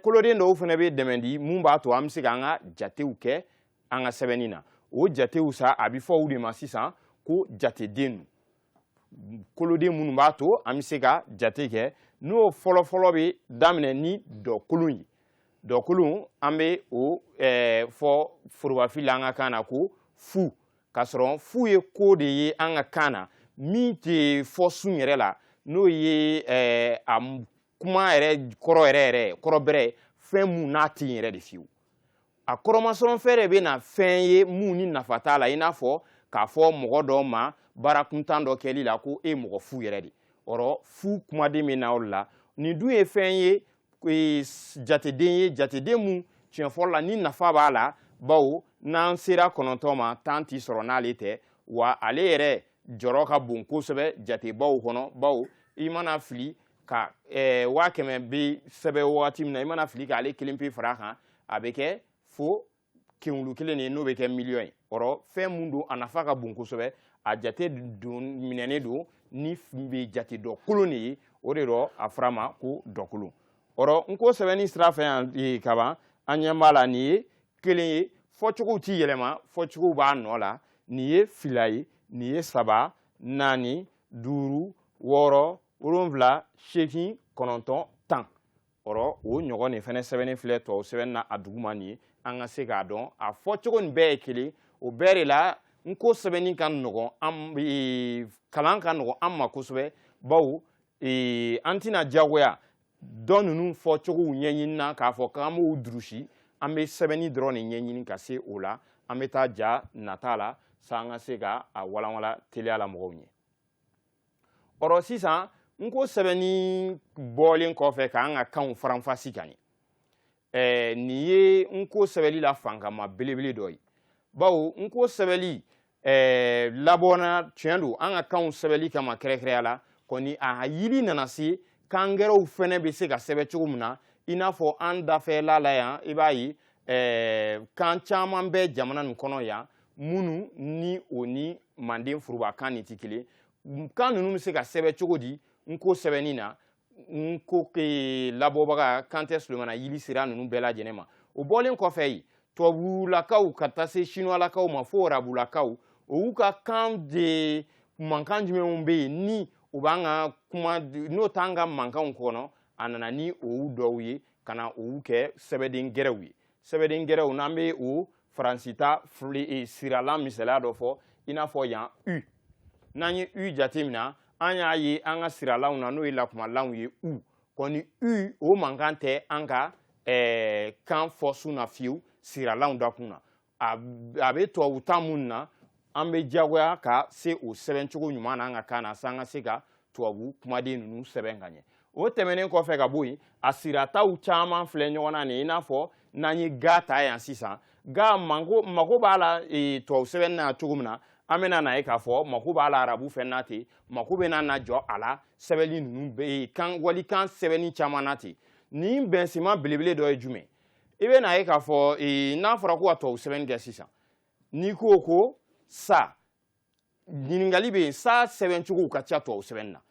koloden dɔw fana bɛ dɛmɛ di mun b'a to an bɛ se k'an ka jatew kɛ an ka sɛbɛnni na o jatew sa a bɛ fɔ u de ma sisan ko jateden koloden minnu b'a to an bɛ se ka jate kɛ n'o fɔlɔfɔlɔ bɛ daminɛ ni dɔkolon ye dɔkolon an bɛ o eh, fɔ forobafi la an ka kan na ko fu k'a sɔrɔ fu ye ko de ye an ka kan na min tɛ fɔ sun yɛrɛ la n'o ye eh, a kuma yɛrɛ kɔrɔ yɛrɛ yɛrɛ kɔrɔ bɛrɛ fɛn mun n'a tɛ yen yɛrɛ de fiyewu a kɔrɔmasɔrɔfɛn de bɛ na fɛn ye mun ni nafa t'a la i n'a fɔ k'a fɔ mɔgɔ dɔw ma baara kuntan dɔ kɛli la ko e mɔgɔ fu yɛrɛ de ɔrɔ fu kumaden bɛ na o la nin dun ye fɛn ye e, jateden ye jateden mun tiɲɛ fɔlɔ la ni nafa b'a la bawo n'an sera kɔnɔntɔn ma tan ti sɔrɔ n'ale tɛ wa ale yɛrɛ jɔrɔ ka bon kosɛbɛ jatebaw kɔnɔ bawo i mana fili ka eh, waa kɛmɛ bi sɛbɛ wagati min na i mana fili k'ale kelen pe far'a kan a bɛ kɛ fo kenwulu kelen de n'o bɛ kɛ miliyɔn ye ɔrɔ fɛn mun don a nafa ka bon kosɛbɛ a jate don minɛnen don ni bɛ jate dɔkolon de ye o de dɔ a fɔr'a ma ko dɔkolon ɔrɔ nko sɛbɛnni sira fɛ yan eh, kaban an ɲɛ b'a la nin ye kelen ye fɔcogow ti yɛlɛma fɔcogow b'a nɔ la nin ye fila ye nin ye saba naani duuru wɔɔrɔ wolonwula seegin kɔnɔntɔn tan ɔrɔ o ɲɔgɔn nin fɛnɛ sɛbɛnni filɛ tubabu sɛbɛnni na a duguma nin ye an ka se k'a dɔn a fɔcogo nin bɛɛ ye kelen o bɛɛ de la nko sɛbɛnni ka nɔgɔn an e, kalan ka nɔgɔn an ma kosɛbɛ bawo e, an tɛna diyagoya dɔ ninnu fɔcogow ɲɛɲini na k'a fɔ k'an b'u durusi an bɛ sɛbɛnni dɔrɔn de ɲɛɲini ka se o la an bɛ taa ja nata la sa an ka se ka a walanwalan teliya la mɔgɔw ɲɛ ɔrɔ sisan nko sɛbɛnni bɔlen kɔfɛ k'an ka kanw faranfasi ka ɲɛ ɛɛ nin ye nko sɛbɛnni la fankama belebele dɔ ye bawo nko sɛbɛnni ɛɛ labɔna tiɲɛ don an ka kanw sɛbɛnni kama kɛrɛkɛrɛya la kɔni a yili nana se kan gɛrɛw fɛnɛ bɛ se ka sɛbɛn cogo min na i n'a fɔ an dafɛla la yan i b'a ye kan caman bɛ jamana nin kɔnɔ yan minnu ni o ni manden furubakan nin tɛ kelen kan ninnu bɛ se ka sɛbɛn cogo di n ko sɛbɛnni na n ko labɔbaga kantɛ solomana yili sera ninnu bɛɛ lajɛlen ma o bɔlen kɔfɛ yen tubabulakaw ka taa se sinuwalakaw ma fo arabulakaw o y'u ka kan de mankan jumɛnw bɛ yen ni u b'an ka kuma n'o t'an ka mankanw kɔnɔ a nana ni olu dɔw ye ka na olu kɛ sɛbɛden gɛrɛw ye sɛbɛden gɛrɛw n'an bɛ o faransi ta siralan misaliya dɔ fɔ i n'a fɔ yan u n'an ye u jateminɛ an y'a ye an ka siralanw na n'o ye lakumalanw ye u kɔni u o mankan tɛ an ka eh, kan fɔ sun na fiyewu siralanw dakun na a bɛ tubabu ta minnu na an bɛ diyagoya ka se o sɛbɛncogo ɲuman na an ka kan na sa an ka se ka tubabu kumaden ninnu sɛbɛn ka ɲɛ o tɛmɛnen kɔfɛ ka bɔ yen a sirataw caman filɛ ɲɔgɔn na nin i n'a fɔ n'an ye ga ta yan sisan ga mako mako b'a la e, tubabu sɛbɛnni na cogo min na an bɛna n'a ye k'a fɔ mako b'a la arabu fɛn na ten mako bɛna na jɔ a la sɛbɛnni ninnu bɛ e, kan walikan sɛbɛnni caman na ten nin bɛnsenma belebele dɔ ye jumɛn i bɛ n'a ye k'a fɔ e, n'a fɔra ko ka tubabu sɛbɛnni kɛ sisan n'i ko ko sa ɲininkali bɛ yen sa sɛbɛncogow ka ca tubabu sɛbɛnni na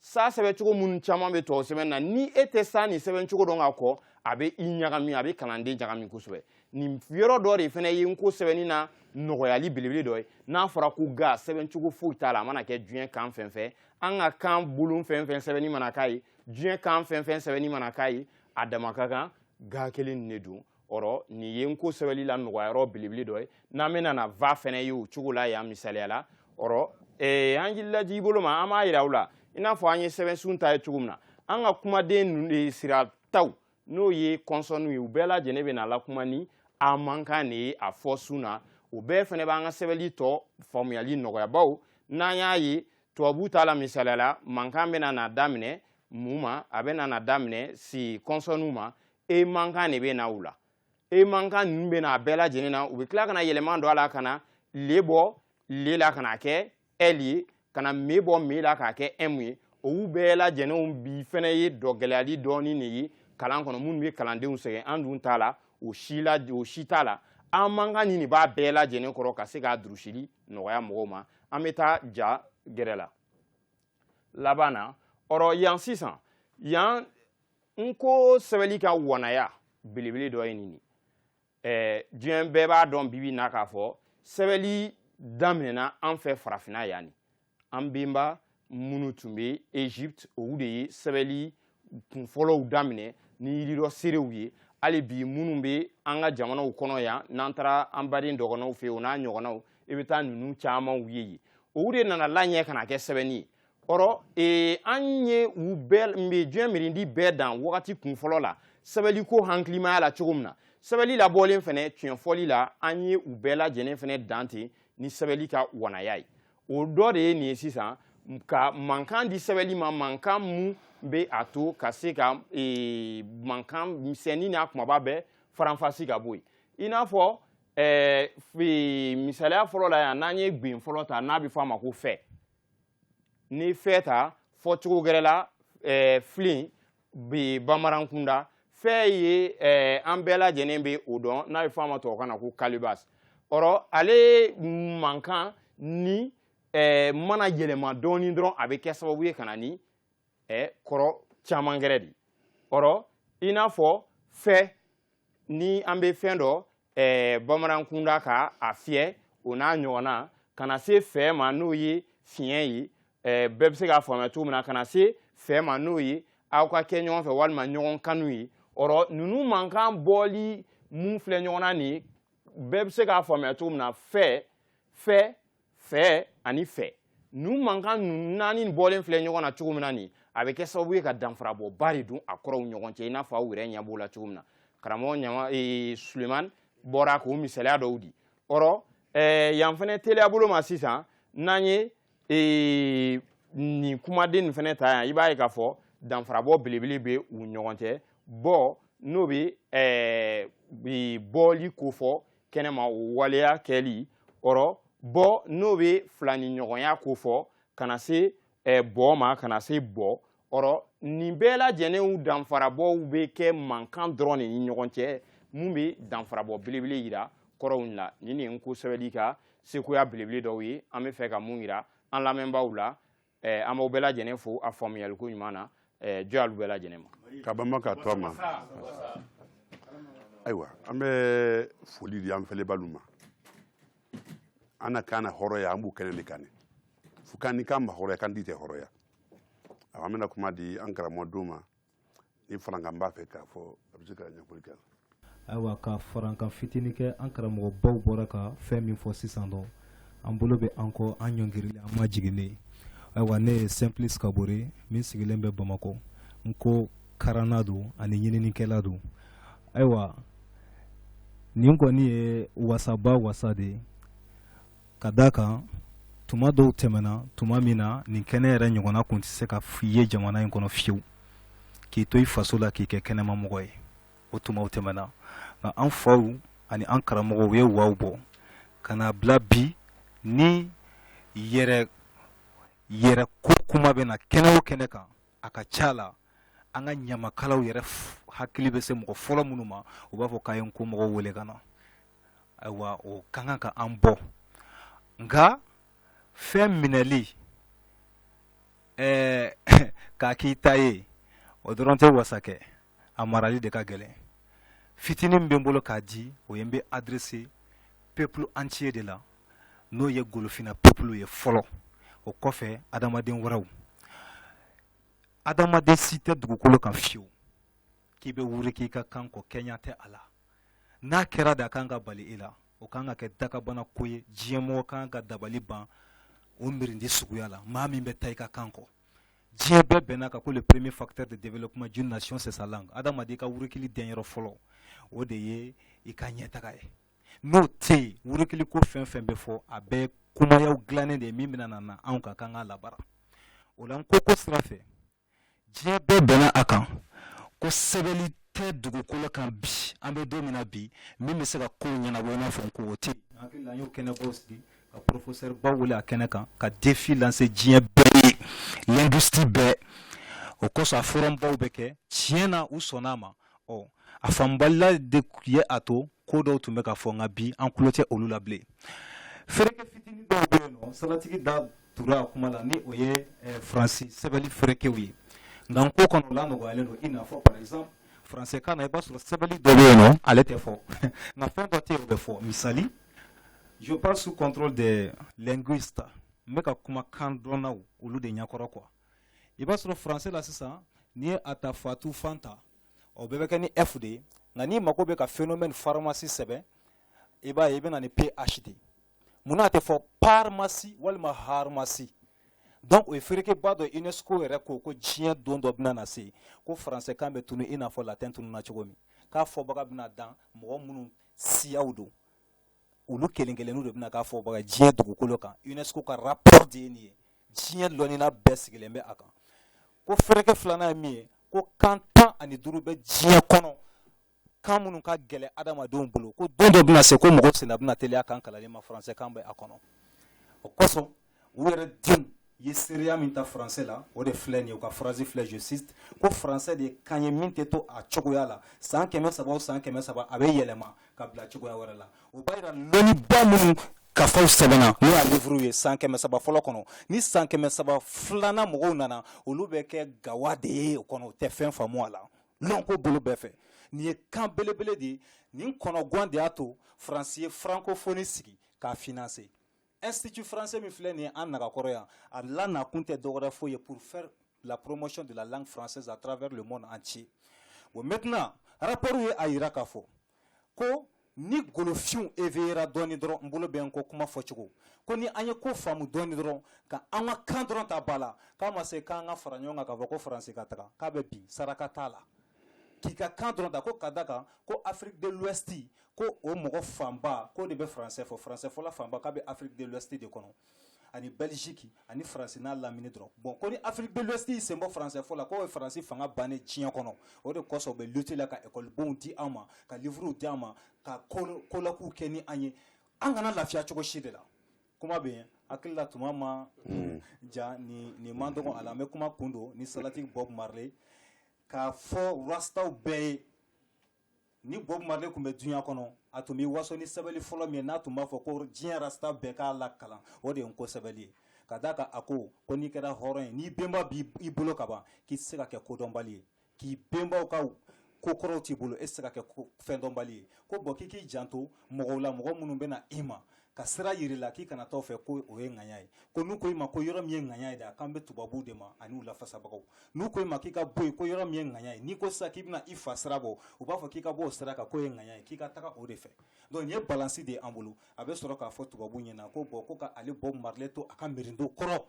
sa sɛbɛncogo minnu caman bɛ tubabu sɛbɛnni na ni e tɛ sa nin sɛbɛncogo dɔn ka kɔ a bɛ i ɲagami a bɛ kalanden ɲagami kosɛbɛ nin yɔrɔ dɔ de fana ye n ko sɛbɛnni na nɔgɔyali belebele dɔ ye n'a fɔra ko ga sɛbɛncogo foyi t'a la a mana kɛ diɲɛ kan fɛn fɛn an ka kan bolon fɛn fɛn sɛbɛnni mana k'a ye diɲɛ kan fɛn fɛn sɛbɛnni mana k'a ye a dama ka kan ga kelen nin de don ɔrɔ nin ye n ko sɛbɛli la nɔgɔyayɔrɔ belebele dɔ ye n'an bɛna na va fɛnɛ ye o cogo la yan misaliya la ɔrɔ eh, an jilaji i bolo ma an b'a yira u la i n'a fɔ an ye sɛbɛnsun ta ye cogo min na an ka kumaden eh, sirataw n'o ye kɔnsɔnniw ye u bɛɛ lajɛlen bɛna lakuma ni a mankan de ye a fɔ sun na o bɛɛ fɛnɛ b'an ka sɛbɛli tɔ faamuyali nɔgɔya bawo n'an y'a ye tubabu ta la misaliya la mankan bɛna na daminɛ mun ma a bɛna na daminɛ si kɔnsɔnniw ma e mankan de bɛ na u la e mankan ninnu bɛ na a bɛɛ lajɛlen na u bɛ tila ka na yɛlɛma don a la ka na le bɔ le la ka na kɛ ɛli ye ka na me bɔ me la k'a kɛ ɛmu ye olu bɛɛ lajɛlenw bi fɛnɛ ye dɔgɛlɛyali dɔɔnin de ye kalan kɔnɔ minnu bɛ kalandenw sɛgɛn an dun ta la o si la o si t'a la a mankan nin de b'a bɛɛ lajɛlen kɔrɔ ka se k'a durusili nɔgɔya mɔgɔw ma an bɛ taa ja gɛrɛ la laban na ɔrɔ yan sisan yan n ko sɛbɛli ka wanaya belebele dɔ ye nin ye diɲɛ bɛɛ b'a dɔn bi bi na k'a fɔ sɛbɛli daminɛna an fɛ farafinna yan nin an benba minnu tun bɛ egypte olu de ye sɛbɛli kunfɔlɔw daminɛ ni yiri dɔ seerew ye hali bi minnu bɛ an ka jamanaw kɔnɔ yan n'an taara an baden dɔgɔnɔw fɛ yen o n'a ɲɔgɔnnaw i bɛ taa ninnu camanw ye yen olu de nana laɲɛ ka na kɛ sɛbɛnni ye ɔrɔ ee, an ye u bɛɛ mbe diɲɛ miirindi bɛɛ dan wagati kunfɔlɔ la sɛbɛliko hakilimaya la cogo min na sɛbɛli labɔlen fɛnɛ tiɲɛ fɔli la an ye u bɛɛ lajɛlen fɛnɛ dan ten ni sɛbɛli ka wanaya ye o dɔ de ye nin ye sisan ka mankan di sɛbɛli ma mankan mun bɛ a to ka se ka ee, mankan misɛnnin n'a kumaba bɛɛ faranfasi ka bɔ yen i n'a fɔ ɛɛ, ee, misaliya fɔlɔ la yan n'an ye gbɛn fɔlɔ ta n'a bɛ fɔ a ma ko fɛ ni fɛ ta fɔcogo gɛrɛ la eh, filen bɛ bamanankunda fɛ ye eh, an bɛɛ lajɛlen bɛ o dɔn n'a bɛ fɔ a ma tubabukan na ko calebasse ɔrɔ ale mankan ni eh, mana yɛlɛma dɔɔni dɔrɔn a bɛ kɛ sababu ye ka na ni ɛ kɔrɔ caman gɛrɛ de ɔrɔ i n'a fɔ fɛ ni an bɛ fɛn dɔ ɛ bamanankunda ka a fiyɛ o n'a ɲɔgɔnna ka na se fɛ ma n'o ye fiɲɛ ye ɛ bɛɛ bɛ se k'a faamuya cogo min na ka na se fɛ ma n'o ye aw ka kɛ ɲɔgɔn fɛ walima ɲɔgɔn kanu ye ɔrɔ ninnu mankan bɔli mun filɛ ɲɔgɔn na nin bɛɛ bɛ se k'a faamuya cogo min na fɛ fɛ fɛ ani fɛ nu mankan nu naani bɔlen filɛ ɲɔgɔn na cogo min na nin a bɛ kɛ sababu ye ka danfarabɔba de don a kɔrɔw ɲɔgɔn cɛ i n'a fɔ aw yɛrɛ ɲɛ b'o la cogo min na karamɔgɔ ɲama ee, suleman bɔra k'o misaliya dɔw di ɔrɔ ɛɛ yan fɛnɛ teliya bolo ma sisan n'an ye ee, nin kumaden nin fɛnɛ ta yan i b'a ye k'a fɔ danfarabɔ belebele bɛ u ɲɔgɔn cɛ bɔ n'o bɛ ɛɛ bɔli ko fɔ kɛnɛma o waleya kɛli ɔrɔ bɔ n'o bɛ filaninɲɔgɔnya ko fɔ ka na se eh, bɔ ma ka na se bɔ ɔrɔ nin bɛɛ lajɛlenw danfarabɔw bɛ kɛ mankan dɔrɔn de ni ɲɔgɔn cɛ mun bɛ danfarabɔ belebele yira kɔrɔw la nin de ye n ko sɛbɛli ka sekoya belebele dɔw ye an bɛ fɛ ka mun yira an lamɛnbaaw la eh, an b'aw bɛɛ lajɛlen fo a faamuyaliko ɲuman na eh, jɔ y'alu bɛɛ lajɛlen ma ka bama ka to a ma ayiwa an bɛ foli di an fɛlɛbaalu ma an na kan na hɔrɔya an b'o kɛnɛ de kan ne fo kan ni kan ma hɔrɔya kantii tɛ hɔrɔya awa an bɛna kuma di an karamɔgɔ dɔ ma ni farankan b'a fɛ k'a fɔ a bɛ se ka ɲɛfɔli kɛ ayiwa ka farankan fitini kɛ an karamɔgɔbaw bɔra ka fɛn min fɔ sisan dɔn an bolo bɛ an kɔ an ɲɔngirilen an majiginnen ayiwa ne ye simplice kabore min sigilen bɛ bamakɔ nko karanna don ani ɲininikɛla don ayiwa nin kɔni ye wasaba wasa de ye ka d'a kan tuma dɔw tɛmɛna tuma min na nin kɛnɛ yɛrɛ ɲɔgɔnna tun tɛ se ka ye jamana in kɔnɔ fiyewu k'i to i faso la k'i kɛ kɛnɛmamɔgɔ ye o tumaw tɛmɛna nka an faw ani an karamɔgɔw u ye waw bɔ ka na bila bi ni yɛrɛ yɛrɛ ko kuma bɛ na kɛnɛ o kɛnɛ kan a ka ca la an ka ɲamakalaw yɛrɛ hakili bɛ se mɔgɔ fɔlɔ minnu ma u b'a fɔ k'a ye nko mɔgɔw wele ka na ayiwa o ka kan ka an bɔ nka fɛn minɛli ɛɛ k'a k'i ta ye o dɔrɔn tɛ wasa kɛ a marali de ka gɛlɛn fitinin min bɛ n bolo k'a di o ye n bɛ adresser peuple entier de la n'o ye golofina peuple ye fɔlɔ o kɔfɛ adamaden wɛrɛw adamaden si tɛ dugukolo kan fiyewu k'i bɛ wuriki i ka kan kɔ kɛɲɛ tɛ a la n'a kɛra de a kan ka bali e la o kan ka kɛ dakabana ko ye diɲɛmɔgɔ kan ka dabali ban o miirindi suguya la maa min bɛ taa i ka kan kɔ diɲɛ bɛɛ bɛnna a kan ko le premier facteur de développement d'une nation c'est sa langue adamaden ka wurukili denyɔrɔ fɔlɔ o de ye i ka ɲɛtaga ye n'o tɛ yen wurukili ko fɛn fɛn bɛ fɔ a bɛɛ kumayaw dilannen de ye min bɛna na anw ka kan k'a labaara o la nko ko sira fɛ diɲɛ bɛɛ bɛnna a kan ko sɛbɛnni tɛ dugukolo kan bi an bɛ don min na bi min bɛ se ka kow ɲɛnabɔ i n'a fɔ nko o tɛ hakili la an y'o kɛnɛbaw sigi ka professeur baw wele a kɛnɛ kan ka défi lancer diɲɛ bɛɛ ye linguistes bɛɛ o kosɔn a forumbaw bɛ kɛ tiɲɛ na u sɔnn'a ma ɔ a faamubaliya de ye a to ko dɔw tun bɛ ka fɔ nka bi an tulo tɛ olu la bilen fereke fitini dɔw bɛ yen nɔ saratigi da tura a kuma la ni o ye eh, faransi sɛbɛnni ferekew ye nka nko kɔnɔ o lanɔgɔyalen don i n'a fɔ par exemple français kan na i b'a sɔrɔ sɛbɛnni dɔ bɛ yen nɔ ale tɛ fɔ nka fɛn dɔ tɛ yen o bɛ fɔ misali je parle sous contrôle des linguistes n bɛ ka kuma kandɔnnaw olu de ɲɛkɔrɔ quoi i b'a sɔrɔ français la sisan n'i ye a ta fatu fanta o bɛɛ bɛ kɛ ni f de ye nka n'i mago bɛ ka phénomène pharmacie sɛbɛn i b'a ye i bɛ na ni ph de ye munna a tɛ fɔ parmacie walima harmacie donc o ye ferekeba dɔ UNESCO yɛrɛ ko ko diɲɛ don dɔ bɛna na se ko français kan bɛ tunu i n'a fɔ latin tununa cogo min k'a fɔbaga bɛna dan mɔgɔ minnu siyaw don olu kelen kelenninw de bɛna k'a fɔbaga diɲɛ dugukolo kan UNESCO ka rapport de ye nin ye diɲɛ lɔnina bɛɛ sigilen bɛ a kan ko fereke filanan ye min ye ko kan tan ani duuru bɛ diɲɛ kɔnɔ kan minnu ka gɛlɛ adamadenw bolo ko don dɔ bɛna se ko mɔgɔ senna bɛna teliya kan kalanni ma français kan bɛ a kɔnɔ o kosɔn u yɛrɛ denw ye seereya min ta français la o de filɛ nin ye u ka phrase filɛ je cite ko français de ye kan ye min tɛ to a cogoya la san kɛmɛ saba o san kɛmɛ saba a bɛ yɛlɛma ka bila cogoya wɛrɛ la o b'a jira lɔnniba minnu kafaw sɛbɛnna n'o y'a livuru ye san kɛmɛ saba fɔlɔ kɔnɔ ni san kɛmɛ saba filanan mɔgɔw nana olu bɛ kɛ gawa de ye o kɔnɔ o tɛ fɛn faamu a la lɔnko bolo bɛɛ fɛ nin ye kan belebele de ye nin kɔnɔguwan de y'a to faransi ye francophonie sigi k'a financer Institut français min filɛ nin ye an nagakɔrɔ yan, a la nakun tɛ dɔwɛrɛ foyi ye pour faire la promotion de la langue française à travers le monde entier bon maintenant rapport ye a jira k'a fɔ ko ni golofinw éveillera dɔɔni dɔrɔn n bolo bɛ n kɔ kuma fɔcogo ko ni an ye ko faamu dɔɔni dɔrɔn ka an ka kan dɔrɔn ta ba la k'a ma se k'an ka fara ɲɔgɔn kan k'a fɔ ko faransi ka taga k'a bɛ bin saraka t'a la k'i ka kan dɔrɔn ta ko ka d'a kan ko Afrique de l'Ouest ko o mɔgɔ fanba ko de bɛ français fɔ français fɔla fanba k'a bɛ Afrique de l'Ouest de kɔnɔ ani Belgique ani faransi n'a lamini dɔrɔn bon ko ni Afrique de l'Ouest y'i sen bɔ français fɔ la k'o ye faransi fanga bannen diɲɛ kɔnɔ o de kɔsɔn u bɛ lutte la ka ekɔlibonw di an ma ka livuruw di an ma ka kolɔkuw kɛ ni an ye an kana lafiya cogo si de la kuma bɛ yen hakilila tuma ma ja nin man dɔgɔ a la an bɛ kuma kun don ni salati Bob Marley k'a fɔ rastaw bɛɛ ye ni Bob Marley tun bɛ duɲa kɔnɔ a tun b'i waso ni sɛbɛnni fɔlɔ min ye n'a tun b'a fɔ ko diɲɛ rastaw bɛɛ k'a lakalan o de ye nko sɛbɛnni ye ka d'a kan a ko ko n'i kɛra hɔrɔn ye n'i bɛnba b'i bolo ka ban k'i tɛ se ka kɛ kodɔnbali ye k'i bɛnbaw ka ko kɔrɔw t'i bolo e tɛ se ka kɛ fɛndɔnbali ye ko bon k'i k'i janto mɔgɔw la mɔgɔ minnu bɛ na i ma ka sira jira i la k'i kana taa o fɛ ko o ye ŋaɲa ye ko n'u ko i ma ko yɔrɔ min ye ŋaɲa ye dɛ a kan bɛ tubabuw de ma ani u lafasabagaw n'u ko e ma k'i ka bɔ yen ko yɔrɔ min ye ŋaɲa ye n'i ko sisan k'i bɛna i fa sira bɔ u b'a fɔ k'i ka bɔ o sira kan k'o ye ŋaɲa ye k'i ka taga o de fɛ donc nin ye balansi de ye an bolo a bɛ sɔrɔ k'a fɔ tubabuw ɲɛna ko bon ko k'ale Bob Marley to a ka mirinto kɔrɔ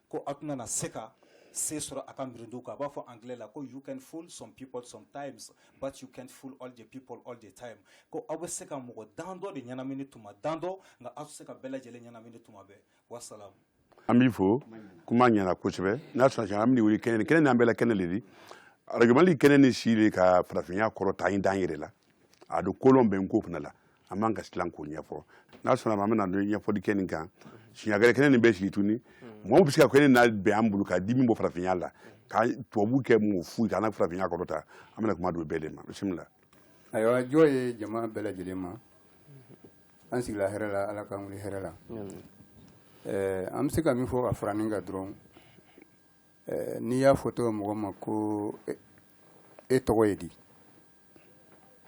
ko aw tɛna na se ka se sɔrɔ a ka mirindu kan a b'a fɔ anglais la ko you can fool some people sometimes but you can't fool all the people all the time ko aw bɛ se ka mɔgɔ dan dɔ de ɲɛnamini tuma dan dɔ nka aw tɛ se ka bɛɛ lajɛlen ɲɛnamini tuma bɛɛ wasalamu an b'i fo kuma ɲɛna kosɛbɛ n'a sɔrɔ an bɛ wuli kɛnɛ kɛnɛ n'an bɛɛ la kɛnɛ le di arajo mali kɛnɛ ni si de ka farafinya kɔrɔ ta an dan yɛrɛ la a don kolon bɛ nko fana la an man kan ka silan k'o ɲɛfɔ n'a sɔnna ma an bɛna don ɲɛfɔli kɛ nin kan siɲa gɛrɛ kɛnɛ nin bɛ sigi tuguni mɔgɔ bɛ se ka kɛnɛ na bɛn an bolo ka di min bɔ farafinya la ka tubabu kɛ mɔgɔ foyi kana farafinya kɔrɔ ta an bɛna kuma don bɛɛ de ma bisimila ayiwa jɔ ye jama bɛɛ lajɛlen ma an sigila hɛrɛ la ala k'an wuli hɛrɛ la eh, an bɛ se ka min fɔ ka fara nin kan dɔrɔn eh, n'i y'a fɔ tɔgɔ mɔgɔ ma ko e, e tɔgɔ ye di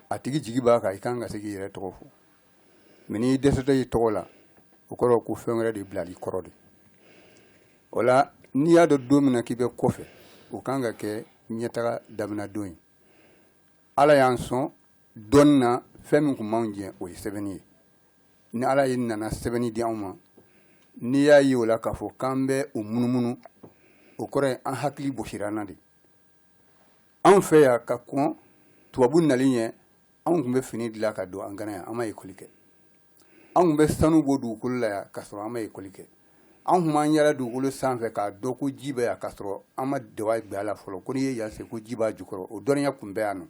a tigi jigi b'a kan i kan ka se k'i yɛrɛ tɔgɔ fɔ mɛ n'i dɛsɛra i tɔgɔ la o kɔrɔ ko fɛn wɛrɛ de bilal'i kɔrɔ de o la n'i y'a dɔn don min na k'i bɛ kɔfɛ o kan ka kɛ ɲɛtaga daminɛ don ye ala y'an sɔn dɔnni na fɛn min tun b'anw jɛ o ye sɛbɛnni ye ni ala ye nana sɛbɛnni di anw ma n'i y'a ye o la k'a fɔ k'an bɛ o munumunu o kɔrɔ ye an hakili bosira an na de anw fɛ yan ka kɔn tubabu nali ɲɛ anw tun bɛ fini dilan ka don an kan na yan an ma ekɔli kɛ anw tun bɛ sanu bɔ dugukolo la yan ka sɔrɔ an ma ekɔli kɛ anw tun b'an yala dugukolo sanfɛ k'a dɔn ko ji bɛ yan ka sɔrɔ an ma daba bila a la fɔlɔ ko n'i ye yan sen ko ji b'a jukɔrɔ o dɔnniya tun bɛ yan nɔ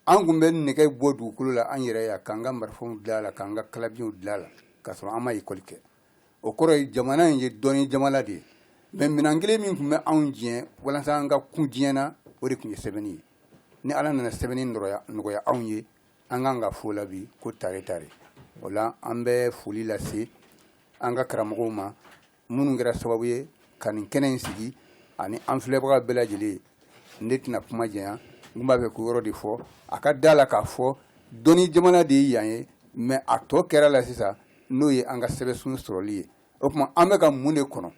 an tun bɛ nɛgɛ bɔ dugukolo la an yɛrɛ yan k'an ka marifaw dilan a la k'an ka kalabiɲɛw dilan a la ka sɔrɔ an ma ekɔli kɛ o kɔrɔ ye jamana in ye dɔnni jamana de ye mɛ minɛn kelen min tun bɛ anw jɛ walasa an ka kun diɲɛ na o de tun ye sɛbɛnni ye ni ala nana sɛbɛnni nɔgɔya anw ye an kan k'a fɔ o la bi ko tare tare o la an bɛ foli lase an ka karamɔgɔw ma minnu kɛra sababu ye ka nin kɛnɛ in sigi ani an filɛbaga bɛɛ lajɛlen ne tɛna kuma janya n b'a fɛ k'o yɔrɔ de fɔ a ka da la k'a fɔ dɔnni jamana de ye yan ye mɛ a tɔ kɛra la sisan n'o ye an ka sɛbɛnsun sɔrɔli ye o tuma an bɛ ka mun de kɔnɔ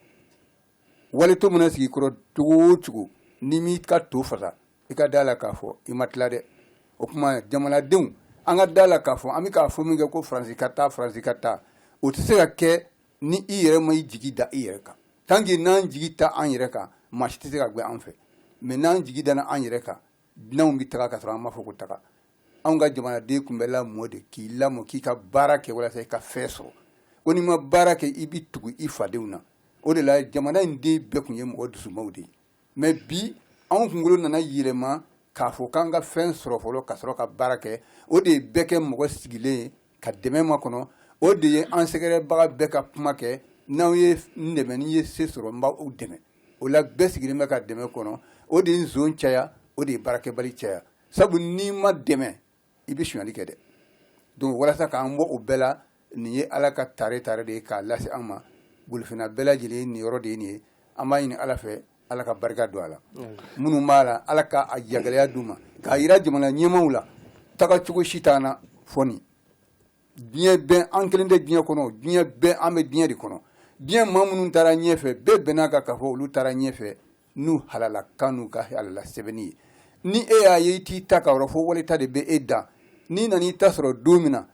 wali to mana sigi i kɔrɔ cogo o cogo n'i m'i ka to fasa i ka da la k'a fɔ i ma tila dɛ o tuma jamanadenw an ka da la k'a fɔ an bɛ k'a fɔ min kɛ ko faransi ka taa faransi ka taa o tɛ se ka kɛ ni i yɛrɛ ma i jigi da i yɛrɛ kan tant que n'an jigi t'an yɛrɛ kan maa si tɛ se ka gɛn an fɛ mais n'an jigi dana an yɛrɛ kan dunanw bɛ taga ka sɔrɔ an m'a fɔ ko taga anw ka jamanaden tun bɛ lamɔ de k'i lamɔ k'i ka baara kɛ walasa i ka fɛn sɔrɔ ko n'i ma baara kɛ i bɛ tugu i fadenw na o de la jamana in den bɛɛ tun ye mɔgɔ dusumaw de ye mɛ bi anw kunkolo nana yɛlɛma k'a fɔ k'an ka fɛn sɔrɔ fɔlɔ ka sɔrɔ ka baara kɛ o de ye bɛɛ kɛ mɔgɔ sigilen ye ka dɛmɛ makɔnɔ o de ye an sɛgɛrɛbaga bɛɛ ka kuma kɛ n'aw ye n dɛmɛ ni n ye se sɔrɔ n b'aw dɛmɛ o la bɛɛ sigilen bɛ ka dɛmɛ kɔnɔ o de ye nson caya o de ye baarakɛbali caya sabu n'i ma dɛmɛ i bɛ sonyali kɛ dɛ donc walasa k'an bɔ o bɛɛ la nin ye ala ka tare tare de ye k'a lase an ma golofina bɛɛ lajɛlen nin yɔrɔ de ye nin ye an b'a ɲini ala fɛ ala ka barika don a la minnu b'a la ala ka a jagɛlɛya d'u ma k'a yira jamana ɲɛmaaw la taga cogo si t'an na fo nin diɲɛ bɛɛ an kelen tɛ diɲɛ kɔnɔ diɲɛ bɛɛ an bɛ diɲɛ de kɔnɔ diɲɛ maa minnu taara ɲɛfɛ bɛɛ bɛnn'a kan k'a fɔ olu taara ɲɛfɛ n'u halala kan n'u ka halala sɛbɛnni ye ni e y'a ye i t'i ta ka yɔrɔ fɔ wali ta de bɛ e da n'i nana i ta sɔrɔ don min na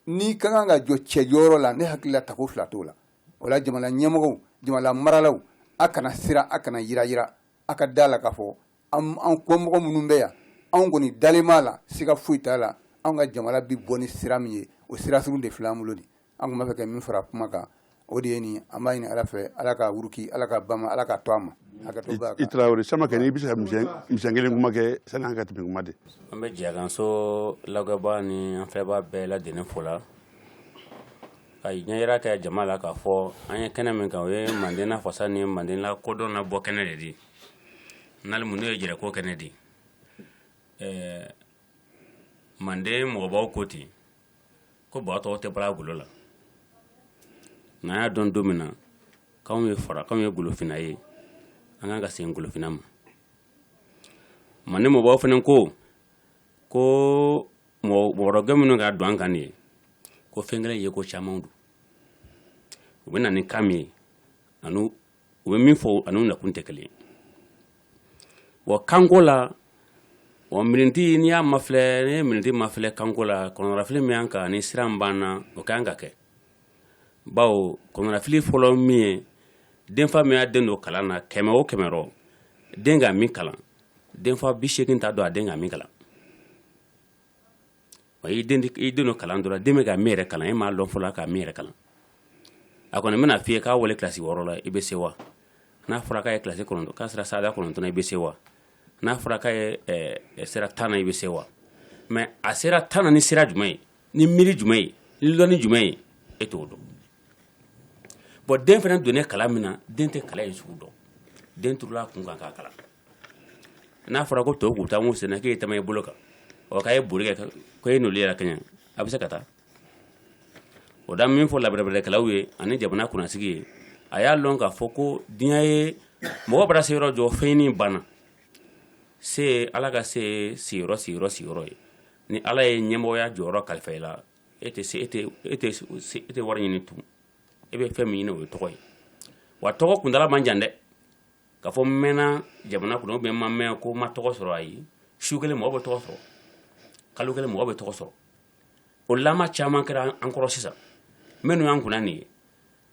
n'i ka kan ka jɔ cɛ jɔyɔrɔ la ne hakili la tako fila t'o la o la jamana ɲɛmɔgɔw jamana maralaw a kana siran a kana yiranyiran a ka da a la k'a fɔ an kɔmɔgɔ minnu bɛ yan anw kɔni dalen b'a la siga foyi t'a la anw ka jamana bɛ bɔ ni sira min ye o sira sugu de filɛ an bolo nin an tun b'a fɛ ka min fara kuma kan o de ye nin an b'a ɲini ala fɛ ala ka wuruki ala ka bama ala ka to a ma i tarawele sama kɛ n'i bɛ se ka misɛn kelen kuma kɛ sani an ka tɛmɛ kuma de an bɛ jɛkanso lagɛbaa ni an filɛbaa bɛɛ ladɛnnin fo la ka ɲɛyira kɛ jama la k'a fɔ an ye kɛnɛ min kan o ye manden na fasa ni manden la kodɔn na bɔ kɛnɛ de di n'ale mun n'o ye jɛrɛko kɛnɛ di ɛɛ manden mɔgɔbaw ko ten ko ba tɔgɔ tɛ bala golo la n'an y'a dɔn don min na k'anw ye fara k'anw ye golofina ye an kan ka segin golofina ma manden mɔgɔbaw fana ko ko mɔgɔkɛ minnu ka don an kan de ye ko fɛn kelen ye ko caman don u bɛ na ni kan min ye ani u bɛ min fɔ ani nakun tɛ kelen wa kanko la wa miniti n'i y'a mafilɛ n'i ye miniti mafilɛ kanko la kɔnɔnafili min y'an kan ni siran b'an na o ka kan ka kɛ bawo kɔnɔnafili fɔlɔ min ye denfa min y'a den don kalan na kɛmɛ o kɛmɛ rɔ den ka min kalan denfa bi segin t'a dɔn a den ka min kalan wa i den don kalan dɔrɔn den bɛ ka min yɛrɛ kalan e m'a dɔn fɔlɔ ka min yɛrɛ kalan a kɔni bɛn'a f'i ye k'a wa le kilasi wɔɔrɔ la i bɛ se wa n'a fɔra k'a ye kilasi kɔnɔ k'a sera sada kɔnɔntɔn na i bɛ se wa n'a fɔra k'a ye sera tan na i bɛ se wa mɛ a sera tan na ni sira jumɛn ye ni miiri jumɛn ye ni lɔnni jumɛn ye e t'o dɔn bon den fana donnen kalan min na den tɛ kalan in sugu dɔn den turula kun kan k'a kalan n'a fɔra ko tɔw taa sen na k'e ye taa i bolo kan ɔ k'a ye boli kɛ ko e n'olu yɛrɛ kɛ a bɛ se ka taa o da min fɔ la bɛrɛbɛrɛkɛlaw ye ani jamana kunnasigi ye a y'a lɔn k'a fɔ ko diɲɛ ye mɔgɔ bara se yɔrɔ jɔ fɛnɲini banna se ala ka se sigiyɔrɔ sigiyɔrɔ sigiyɔrɔ ye ni ala ye ɲɛmɔgɔya jɔyɔrɔ kalifa i la e tɛ e e tɛ wari ɲini tugun e bɛ fɛn min ɲini o ye tɔgɔ ye wa tɔgɔ kuntaala man jan dɛ k'a fɔ mɛnna jamana kɔnɔ ou bien ma mɛn ko ma tɔgɔ sɔrɔ a ye su kelen mɔgɔ bɛ tɔgɔ sɔrɔ kalo kelen mɔgɔ bɛ tɔgɔ sɔrɔ o la caman kɛra an kɔrɔ sisan minnu y'an kunna nin ye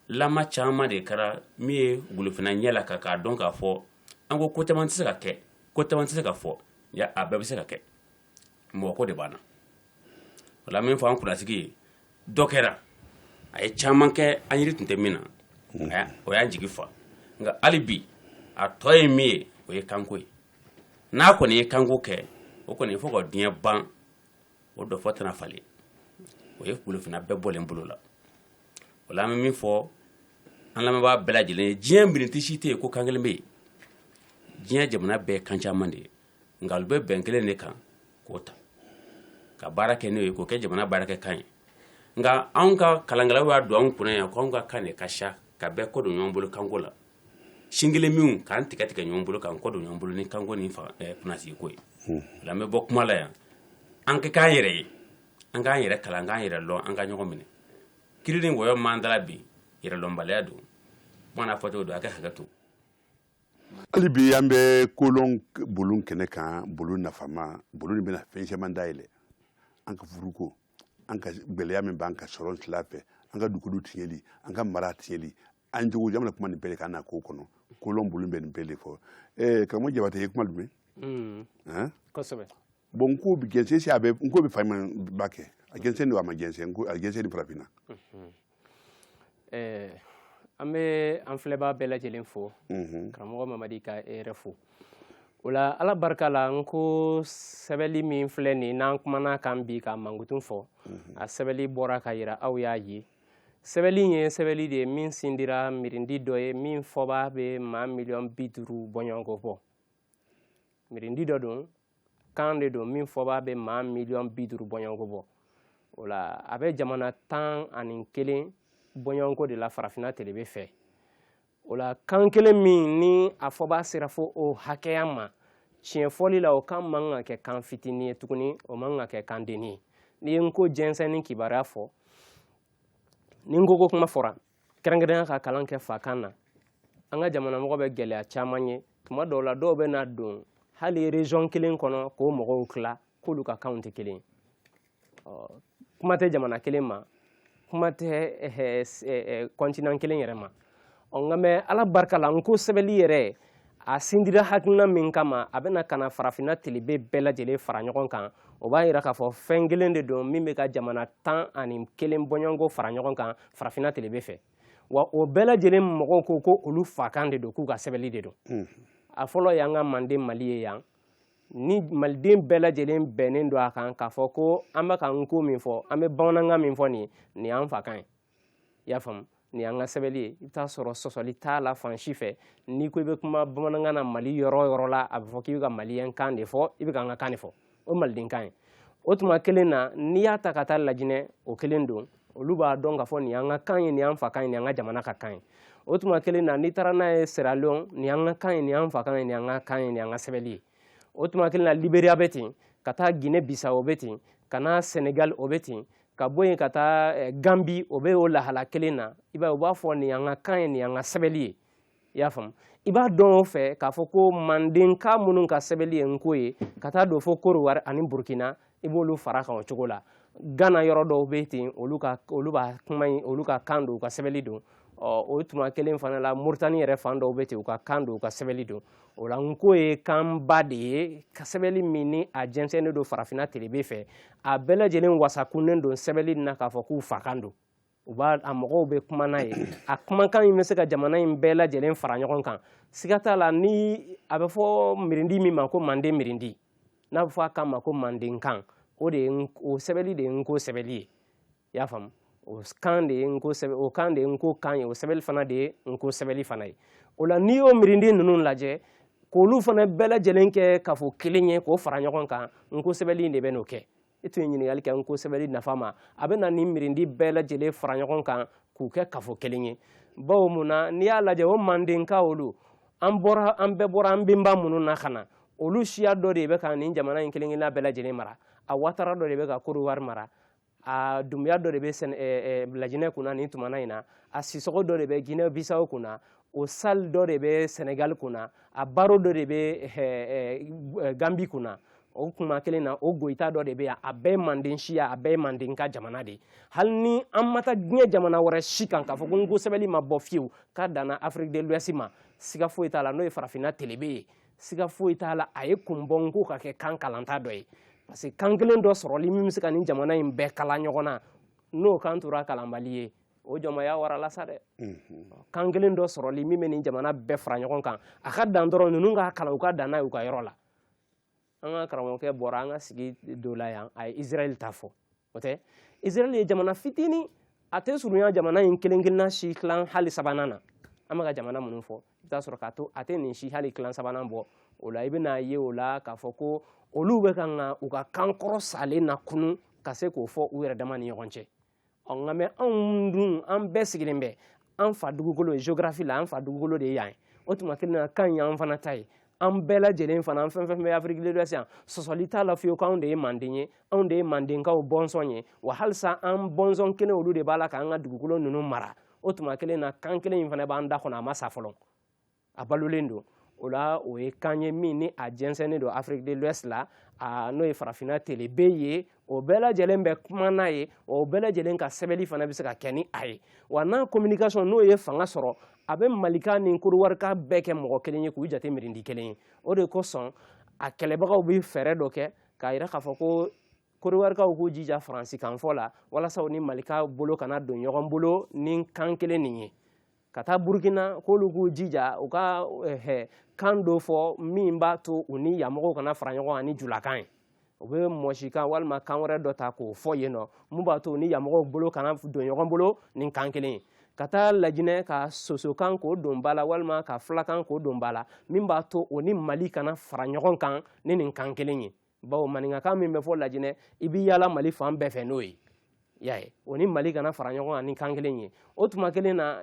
la caman de kɛra min ye golofinna ɲɛ laka k'a dɔn k'a fɔ an ko ko caman tɛ se ka kɛ ko caman tɛ se ka fɔ a bɛɛ bɛ se ka kɛ mɔgɔ ko de b'an na o la min fɔ an kunnasigi ye dɔ kɛra a ye caman kɛ an yiri tun tɛ min na mm. o y'an jigi fa nka hali bi a tɔ ye min ye o ye kanko ye n'a kɔni ye kanko kɛ o kɔni fo ka diɲɛ ban o dɔfɔ tɛna falen o ye golofinna bɛɛ bɔlen bolo la o la an bɛ min fɔ an lamɛnbaa bɛɛ lajɛlen ye diɲɛ mirindi si tɛ yen ko kan kelen bɛ yen diɲɛ jamana bɛɛ ye kan caman de ye nka u bɛ bɛn kelen de kan k'o ta ka baara kɛ n'o ye k'o kɛ jamana baarakɛ kan ye nka anw ka kalankɛlaw y'a don anw kunna yan ko anw ka kan de ka siya ka bɛɛ kɔ don ɲɔgɔn bolo kanko la sin kelen min k'an tigɛ tigɛ ɲɔgɔn bolo k'an kɔ don ɲɔgɔn bolo ni kanko ni kunnasigi ko ye o la an bɛ bɔ kuma la yan an ka k'an yɛrɛ ye an k'an yɛrɛ kalan k'an yɛrɛ lɔn an ka ɲɔgɔn minɛ kiri ni wɔyɔ man dala bi yɛrɛlɔnbaliya don kuma n'a fɔcogo don a ka hakɛ to hali bi an bɛ kolɔn bulon kɛnɛ kan bulon nafama bulon min bɛna fɛn caman dayɛlɛ an ka furuko an ka gɛlɛya min b'an ka sɔrɔ sila fɛ an ka dugukolo tiɲɛli an ka mara tiɲɛli an jogo jamana kuma nin bɛɛ de kan na ko kɔnɔ kolɔn bulon bɛ nin bɛɛ de fɔ karamɔgɔ jabate ye kuma duman kosɛbɛ bon n ko jɛnsɛn si a bɛ n ko bɛ fa ba kɛ a jɛnsɛn don a ma jɛnsɛn n ko a jɛnsɛnni farafinna mhm. eh, an bɛ an filɛbaa bɛɛ lajɛlen fo mhm. karamɔgɔ mamadi ka e yɛrɛ fo o la ala barika la n ko sɛbɛli min filɛ nin n'an kumana kan bi ka mankutun fɔ mhm. a sɛbɛli bɔra ka yira aw y'a ye sɛbɛli in ye sɛbɛli de ye min sindira mirindi dɔ ye min fɔba bɛ maa miliyɔn bi duuru bɔɲɔgɔnko bɔ mirindi dɔ don kan de don min fɔba bɛ maa miliyɔn bi duuru bɔɲɔgɔnko bɔ o la a bɛ jamana tan ani kelen bɔɲɔgɔnko de la farafinna telebe fɛ o la kan kelen min ni a fɔba sera fo o hakɛya ma tiɲɛ fɔli la o kan man ka kɛ kan fitinin ye tuguni o man ka kɛ kan denni ye n'i ye n ko jɛnsɛnni kibaruya fɔ ni n ko ko kuma fɔra kɛrɛnkɛrɛnya ka kalan kɛ fakan na an ka jamanamɔgɔ bɛ gɛlɛya caman ye tuma dɔw la dɔw bɛ na don hali région kelen kɔnɔ k'o mɔgɔw tila k'olu ka kanw tɛ kelen kuma tɛ jamana kelen ma kuma tɛ eh, eh, eh, continent kelen yɛrɛ ma quand même ala barika la n ko sɛbɛnli yɛrɛ a sindira hakilina min kama a bɛna ka na farafinna tilebe bɛɛ lajɛlen fara ɲɔgɔn kan o b'a yira k'a fɔ fɛn kelen de don min bɛ ka jamana tan ani kelen bɔɲɔgɔnko fara ɲɔgɔn kan farafinna tilebe fɛ wa o bɛɛ lajɛlen mɔgɔw ko ko olu fakan de don k'u ka sɛbɛnli de don a fɔlɔ y'an ka manden mali ye yan ni maliden bɛɛ lajɛlen bɛnnen don a kan k'a fɔ ko an bɛ ka nko min fɔ an bɛ bamanankan min fɔ nin nin y'an fakan ye i y'a faamu ni an ka sɛbɛnni ye i bɛ t'a sɔrɔ sɔsɔli t'a la fan si fɛ n'i ko i bɛ kuma bamanankan na mali yɔrɔ o yɔrɔ la a bɛ fɔ k'i bɛ ka maliyɛn kan de fɔ i bɛ ka an ka kan de fɔ o maliden kan ye o tuma kelen na n'i y'a ta ka taa lajinɛ o kelen don olu b'a dɔn k'a fɔ nin y'an ka kan ye nin y'an fakan ye nin y'an ka jamana ka kan ye o tuma kelen na n'i taara n'a ye siralon nin y'an ka kan ye nin y'an fakan ye nin y'an ka kan ye nin y'an ka sɛbɛnni ye o tuma kelen na liberia bɛ ten ka taa ginɛ bisawo o bɛ ten ka na senegal o bɛ ten ka bɔ yen ka taa eh, gambi o bɛ o lahala kelen na i b'a ye u b'a fɔ nin y'an ka kan ye nin y'an ka sɛbɛli ye i y'a faamu i b'a dɔn o fɛ k'a fɔ ko mandenka minnu ka sɛbɛli ye nko ye ka taa don fo korowari ani burkina i b'olu fara kan o cogo la gana yɔrɔ dɔw bɛ ten olu ka olu b'a kuma in olu ka kan don u ka sɛbɛnni don ɔ o tuma kelen fana la moritani yɛrɛ fan dɔw bɛ ten u ka kan don u ka sɛbɛnni don o la nko ye kanba de ye ka sɛbɛnni min ni a jɛnsɛnnen don farafinna telebe fɛ a bɛɛ lajɛlen wasakunnen don sɛbɛnni na k'a fɔ k'u fakan don u b'a a mɔgɔw bɛ kuma n'a ye a kumakan in bɛ se ka jamana in bɛɛ lajɛlen fara ɲɔgɔn kan siga t'a la ni a bɛ fɔ mirindi min ma ko manden mirindi n'a bɛ fɔ a kan ma ko mandenkan o de ye o sɛbɛnni de ye nko sɛbɛnni ye i y'a faamu o kan de ye nko sɛbɛn o kan de ye nko kan ye o sɛbɛnni fana de ye nko sɛbɛnni fana ye o la n'i y'o mirindi ninnu lajɛ k'olu fana bɛɛ lajɛlen kɛ kafo kelen ye k'o fara ɲɔgɔn kan nko sɛbɛnni de bɛn'o kɛ e tun ye ɲininkali kɛ nko sɛbɛnni nafa ma a bɛna nin mirindi bɛɛ lajɛlen fara ɲɔgɔn kan k'u kɛ kafo kelen ye bawo mun na n'i y'a lajɛ o mandenka olu an bɔra an bɛɛ bɔra an benba minnu na ka na olu siya dɔ de bɛ ka nin jamana in kelen kelenna bɛɛ lajɛlen mara a watara dɔ de bɛ ka korowari mara a dumbuya dɔ de bɛ lajinɛ kunna nin tumana in na a sisɔgɔ dɔ de bɛ ginɛ bisawo kunna o sal dɔ de bɛ senegal kunna a baro dɔ de bɛ gambi kunna o tuma kelen na o goyita dɔ de bɛ yan a bɛɛ manden siya a bɛɛ manden ka jamana de hali ni an ma taa diɲɛ jamana wɛrɛ si kan k'a fɔ ko nko sɛbɛnni ma bɔ fiyewu k'a danna afrique de l'ouest ma siga foyi t'a la n'o ye farafinna telebe ye siga foyi t'a la a ye kun bɔ nko ka kɛ kan kalanta dɔ ye parce que kan kelen dɔ sɔrɔli min bɛ se ka nin jamana in bɛɛ kala ɲɔgɔn na n'o kan tora kalanbali ye o jɔnmaya warala sa dɛ kan kelen dɔ sɔrɔli min bɛ nin jamana bɛɛ fara ɲɔgɔn kan a ka dan dɔrɔn ninnu ka kalan u ka dan n'a y'u ka yɔrɔ la an ka karamɔgɔkɛ bɔra an ka sigi dɔ la yan a ye israɛl ta fɔ o tɛ israɛl ye jamana fitinin a tɛ surunya jamana in kelen kelenna si tilan hali sabanan na an bɛ ka jamana minnu fɔ i bɛ t'a sɔrɔ k'a to a tɛ nin si hali tilan sabanan bɔ o la i bɛn'a ye o la k'a fɔ ko olu bɛ kan ka u ka kan kɔrɔ salen nakunun ka se k'o fɔ u yɛrɛ dama ni ɲɔgɔn cɛ ɔ nka mais anw dun an bɛɛ sigilen bɛ an fa dugukolo ye geografi la an fa dugukolo de ye yan ye o tuma kelen na kan ye an fana ta ye an bɛɛ lajɛlen fana an fɛn fɛn bɛ afrique de l'ouest yan sɔsɔli t'a la fiyewu ko anw de ye manden ye anw de ye mandenkaw bɔnsɔn ye wa halisa an bɔnsɔn kelen olu de b'a la k'an ka dugukolo ninnu mara o tuma kelen na kan kelen in fana b'an da kɔnɔ a ma sa fɔlɔ a balolen don o la o ye kan ye min ni a jɛnsɛnnen don afrique de l'ouest la n'o ye farafinna telebe ye o bɛɛ lajɛlen bɛ kuma n'a ye o bɛɛ lajɛlen ka sɛbɛnni fana bɛ se ka kɛ ni a ye wa n'a communication n'o ye fanga sɔrɔ a bɛ malikaw ni kodiwarikaw bɛɛ kɛ mɔgɔ kelen ye k'u jate mirindi kelen ye o de kosɔn a kɛlɛbagaw bɛ fɛɛrɛ dɔ kɛ k'a yira k'a fɔ ko kodiwarikaw k'u jija faransikanfɔ la walasa u ni malikaw bolo kana don ɲɔgɔn bolo ni kan kelen nin ye ka taa burukina k'olu k'u jija u ka eh, kan dɔ fɔ min b'a to u ni yanmɔgɔw kana fara ɲɔgɔn kan ni julakan ye u bɛ mɔsikan walima kan wɛrɛ dɔ ta k'o fɔ yen nɔ min b'a to u ni yanmɔgɔw bolo kana don ɲɔgɔn bolo ni kan kelen ye ka taa lajinɛ ka sosokan k'o don ba la walima ka fulakan k'o don ba la min b'a to o ni mali kana fara ɲɔgɔn kan ni nin kan kelen ye bawo maninkakan min bɛ fɔ lajinɛ i bɛ yaala mali fan bɛɛ fɛ n'o ye y'a ye o ni mali kana fara ɲɔgɔn kan ni kan kelen ye o tuma kelen na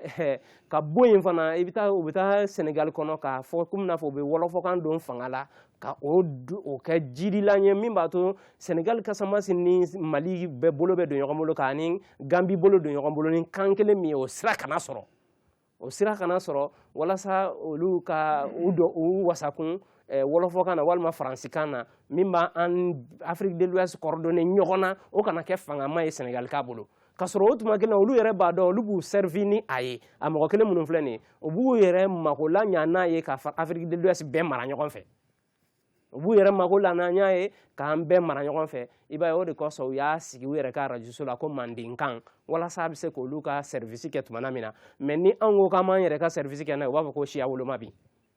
ka bɔ yen fana i bɛ taa u bɛ taa senegali kɔnɔ k'a fɔ komi n'a fɔ u bɛ wɔlɔfɔkan don fanga la ka o o kɛ jirilan ye min b'a to senegali kasamasi ni mali bɛɛ bolo bɛ don ɲɔgɔn bolo k'a ni ganbi bolo don ɲɔgɔn bolo ni kan kelen min ye o sira kana sɔrɔ o sira kana sɔrɔ walasa olu ka u dɔ u wasakun eh, wɔlɔfɔkan na walima faransikan na min b'a an afrique de l'ouest coordonner ɲɔgɔn na o kana kɛ fangama ye senegalikaw bolo k'a sɔrɔ o tuma kelen na olu yɛrɛ b'a dɔn olu b'u servi ni a ye a mɔgɔ kelen minnu filɛ nin ye u b'u yɛrɛ mako laɲa n'a ye ka afrique de l'ouest bɛɛ mara ɲɔgɔn fɛ u b'u yɛrɛ mako laɲa n'a ye k'an bɛɛ mara ɲɔgɔn fɛ i b'a ye o de kosɔn u y'a sigi u yɛrɛ ka arajoso la ko mandenkan walasa a bɛ se k'olu ka sɛrivisi kɛ tuma min na mais ni anw ko k'an b'an yɛrɛ ka sɛrivisi kɛ n'a ye u b'a fɔ ko siya woloma bi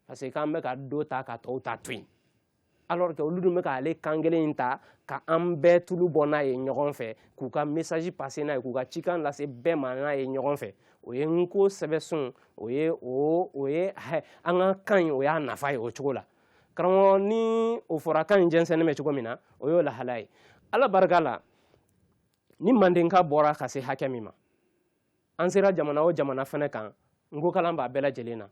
parce que k'an bɛ ka dɔ ta ka tɔw ta to yen alors que olu dun bɛ k'ale kan kelen in ta ka an bɛɛ tulu bɔ n'a ye ɲɔgɔn fɛ k'u ka message passer n'a ye k'u ka cikan lase bɛɛ ma n'a ye ɲɔgɔn fɛ o ye nko sɛbɛsun o ye o o ye an ka kan in o y'a nafa ye o cogo la karamɔgɔ ni o fɔra kan in jɛnsɛnnen bɛ cogo min na o y'o lahala ye ala barika la ni mandenka bɔra ka se hakɛ min ma an sera jamana o jamana fɛnɛ kan nko kalan b'a bɛɛ lajɛlen na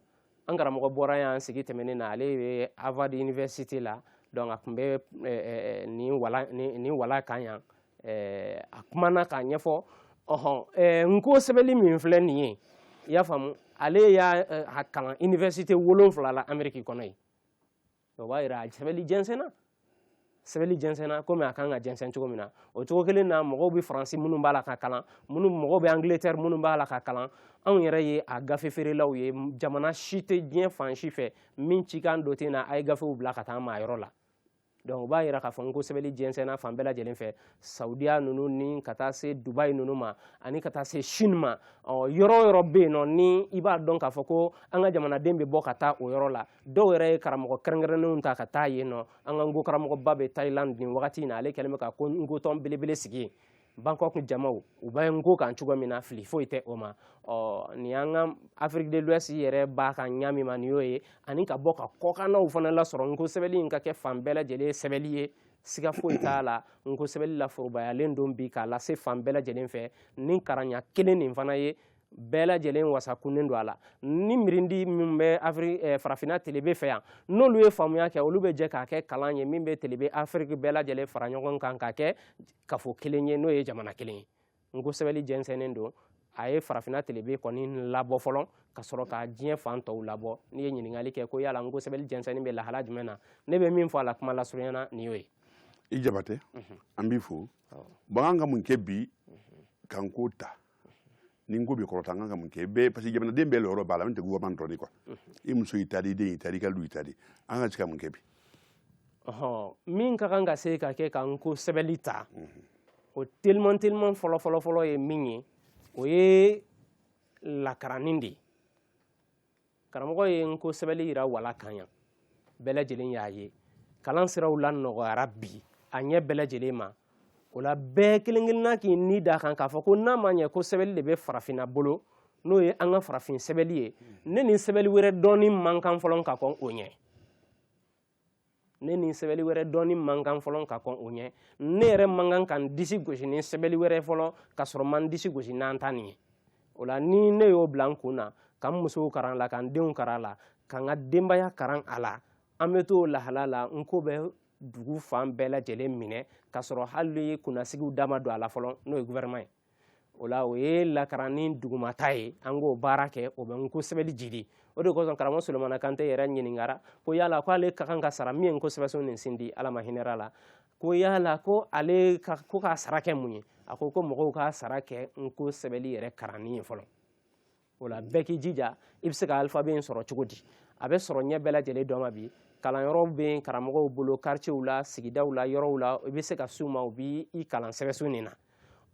an karamɔgɔ bɔra yan sigi tɛmɛnen na ale bɛ harvard university la donc a tun bɛ nin wala nin wala kan yan a kumana k'a ɲɛfɔ ɔhɔn nko sɛbɛli min filɛ nin ye i y'a faamu ale y'a kalan université wolonfila la ameriki kɔnɔ yen o b'a yira a sɛbɛli jɛnsɛnna sɛbɛli jɛnsɛnna komi a kan ka jɛnsɛn cogo min na o cogo kelen na mɔgɔw bɛ faransi minnu b'a la k'a kalan minnu mɔgɔw bɛ angletɛri minnu b'a la k'a kalan anw yɛrɛ ye a gafe feerelaw ye jamana si tɛ diɲɛ fan si fɛ min cikan dɔ tɛ na a ye gafew bila ka taa maa yɔrɔ la donc o b'a yira k'a fɔ nko sɛbɛli jɛnsɛnna fan bɛɛ lajɛlen fɛ saudiya ninnu ni ka taa se dubai ninnu ma ani ka taa se chine ma ɔ yɔrɔ o yɔrɔ bɛ yen nɔ ni i b'a dɔn k'a fɔ ko an ka jamanaden bɛ bɔ ka taa o yɔrɔ la dɔw yɛrɛ ye karamɔgɔ kɛrɛnkɛrɛnnenw ta ka taa yen nɔ an ka nko karamɔgɔba bɛ thailand nin wagati in na ale kɛlen bɛ ka ko nkotɔn belebele sigi yen bangkok jamaw u bɛ nko kan cogo min na fili foyi tɛ o ma ɔ nin y'an ka afrique de l'ouest yɛrɛ b'a kan ɲa min ma nin y'o ye ani ka bɔ ka kɔkannaw fana lasɔrɔ nko sɛbɛli in ka kɛ fan bɛɛ lajɛlen sɛbɛli ye siga foyi t'a la nko sɛbɛli laforobayalen don bi k'a lase fan bɛɛ lajɛlen fɛ ni karanɲa kelen nin fana ye bɛɛ lajɛlen wasakunnen don a la ni mirindi min bɛ afiri eh, farafinna telebe fɛ yan n'olu ye faamuya kɛ olu bɛ jɛ k'a kɛ kalan ye min bɛ telebe afiriki bɛɛ lajɛlen fara ɲɔgɔn kan k'a kɛ kafo kelen ye n'o ye jamana kelen ye nko sɛbɛli jɛnsɛnnen don a ye farafinna telebe kɔni labɔ fɔlɔ ka sɔrɔ ka diɲɛ fan tɔw labɔ n'i ye ɲininkali kɛ ko yala nko sɛbɛli jɛnsɛnni bɛ lahala jumɛn na ne bɛ min fɔ a la kuma lasurunya na nin y'o ye i jabate an b'i fo bon an ka mun kɛ bi ka nko ta ni nko bɛ kɔrɔta an kan ka mun kɛ bɛɛ parce que jamanaden bɛɛ lɔyɔrɔ b'a la min tɛ gouvernement dɔrɔn de quoi i muso y'i ta di i den y'i ta di i ka du y'i ta di an ka se ka mun kɛ bi ɔhɔn min ka kan ka se ka kɛ ka nko sɛbɛli ta o teliman teliman fɔlɔ fɔlɔ fɔlɔ ye min ye o ye lakaranni de ye karamɔgɔ ye nko sɛbɛli yira wala kan yan bɛɛ lajɛlen y'a ye kalan siraw lanɔgɔyara bi a ɲɛ bɛɛ lajɛlen ma o la bɛɛ kelen kelenna k'i ni da kan k'a fɔ ko n'a ma ɲɛ ko sɛbɛli de bɛ farafinna bolo n'o ye an ka farafin sɛbɛli ye ne ni sɛbɛli wɛrɛ dɔnni man kan fɔlɔ ka kɔn o ɲɛ ne ni sɛbɛli wɛrɛ dɔnni man kan fɔlɔ ka kɔn o ɲɛ ne yɛrɛ man kan ka n disi gosi ni sɛbɛli wɛrɛ fɔlɔ ka sɔrɔ n ma n disi gosi n'an ta nin ye o la ni ne y'o bila n kun na ka n musow karan la ka n denw karan la ka n ka denbaya karan a la an bɛ t'o lahala la nko bɛ dugu fan bɛɛ lajɛlen minɛ ka sɔrɔ hali kunnasigiw da ma don a la fɔlɔ n'o ye gouvernement ye o la o ye lakaranni dugumata ye an k'o baara kɛ o bɛ nko sɛbɛli jidi o de kosɔn karamɔgɔ solomana kante yɛrɛ ɲininkara ko yala ko ale ka kan ka sara min ye nko sɛbɛsun nin sindi ala ma hinɛr'a la ko yala ko ale ka ko k'a sara kɛ mun ye a ko ko mɔgɔw k'a sara kɛ nko sɛbɛli yɛrɛ karanni ye fɔlɔ o la bɛɛ k'i jija i bɛ se ka alifabe in sɔrɔ cogo di a bɛ sɔrɔ ɲɛ bɛɛ lajɛlen dɔ ma bi kalanyɔrɔw bɛ yen karamɔgɔw bolo kartiyew la sigidaw la yɔrɔw la i bɛ se ka s'u ma u bɛ i kalan sɛbɛsun nin na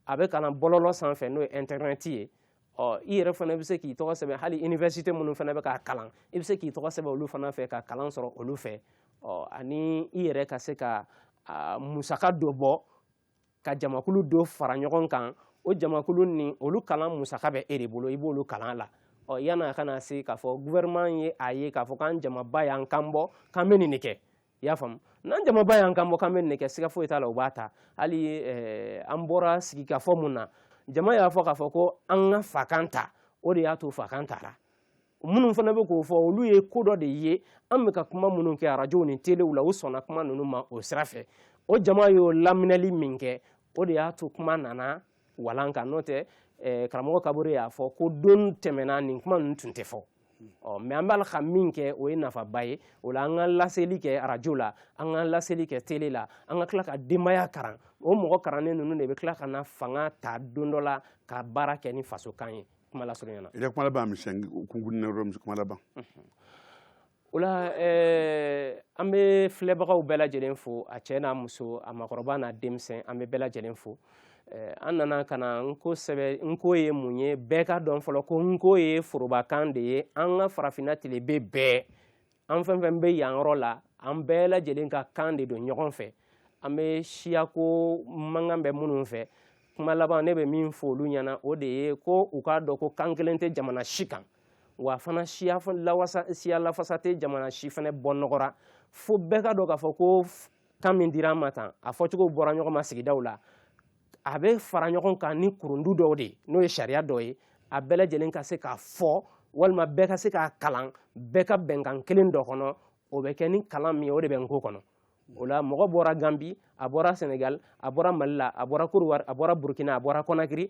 a bɛ kalan bɔlɔlɔ sanfɛ n'o ye intɛrɛnɛti ye ɔ i yɛrɛ fana bɛ se k'i tɔgɔ sɛbɛn hali iniwɛsite minnu fana bɛ k'a kalan i bɛ se k'i tɔgɔ sɛbɛn olu fana fɛ ka kalan sɔrɔ olu fɛ ɔ ani i yɛrɛ ka se ka musaka dɔ bɔ ka jamakulu dɔ fara ɲɔgɔn kan o jamakulu ni olu kalan musaka bɛ e de bolo i b'olu kalan la ɔ yan'a ka na se k'a fɔ gouvernement ye a ye k'a fɔ k'an jamaba y'an kan bɔ k'an bɛ nin de kɛ i y'a faamu n'an jamaba y'an kan bɔ k'an bɛ nin de kɛ siga foyi t'a la u b'a ta hali eh, an bɔra sigikafɔ mun na jama y'a fɔ k'a fɔ ko an ka fakan ta o de y'a to fakan tara minnu fana bɛ k'o fɔ olu ye ko dɔ de ye an bɛ ka kuma minnu kɛ arajow ni telew la u sɔnna kuma ninnu ma o sira fɛ o jama y'o laminɛli min kɛ o de y'a to kuma nana walan kan n'o tɛ eh, karamɔgɔ kabore y'a fɔ ko don tɛmɛna nin kuma ninnu tun tɛ fɔ ɔ mɛ an b'a la ka min kɛ o ye nafaba ye o la an ka laseli kɛ arajo la an ka laseli kɛ tele la an ka tila ka denbaya karan o mɔgɔ karannen ninnu de bɛ tila ka na fanga ta don dɔ la ka baara kɛ ni fasokan ye kuma lasurunya na i ka kuma laban misɛn kunkurunin na yɔrɔ kuma laban o la eh, an bɛ filɛbagaw bɛɛ lajɛlen fo a cɛ n'a muso a makɔrɔba n'a denmisɛn an bɛ bɛɛ lajɛlen fo eh, an nana ka na nko sɛbɛ nko ye mun ye bɛɛ k'a dɔn fɔlɔ ko nko ye forobakan de ye an ka farafinna tilebe bɛɛ an fɛn fɛn bɛ yan yɔrɔ la an bɛɛ lajɛlen ka kan de don ɲɔgɔn fɛ an bɛ siyako mankan bɛ minnu fɛ kuma laban ne bɛ min fɔ olu ɲɛna o de ye ko u k'a dɔn ko kan kelen tɛ jamana si kan wa fana siya lawasa siya lafasa tɛ jamana si fana bɔ nɔgɔ ra fo bɛɛ k'a dɔn k'a fɔ ko kan min dira an ma tan a fɔcogo bɔra ɲɔgɔn ma sigidaw la a bɛ fara ɲɔgɔn kan ni kurundu dɔw de ye n'o ye sariya dɔ ye a bɛɛ lajɛlen ka se k'a fɔ walima bɛɛ ka se k'a kalan bɛɛ ka bɛn kan kelen dɔ kɔnɔ o bɛ kɛ ni kalan min ye o de bɛ nko kɔnɔ o la mɔgɔ bɔra ganbi a bɔra sɛnɛgali a bɔra mali la a bɔra kɔdiwari a bɔra burukina a bɔra kɔnakiri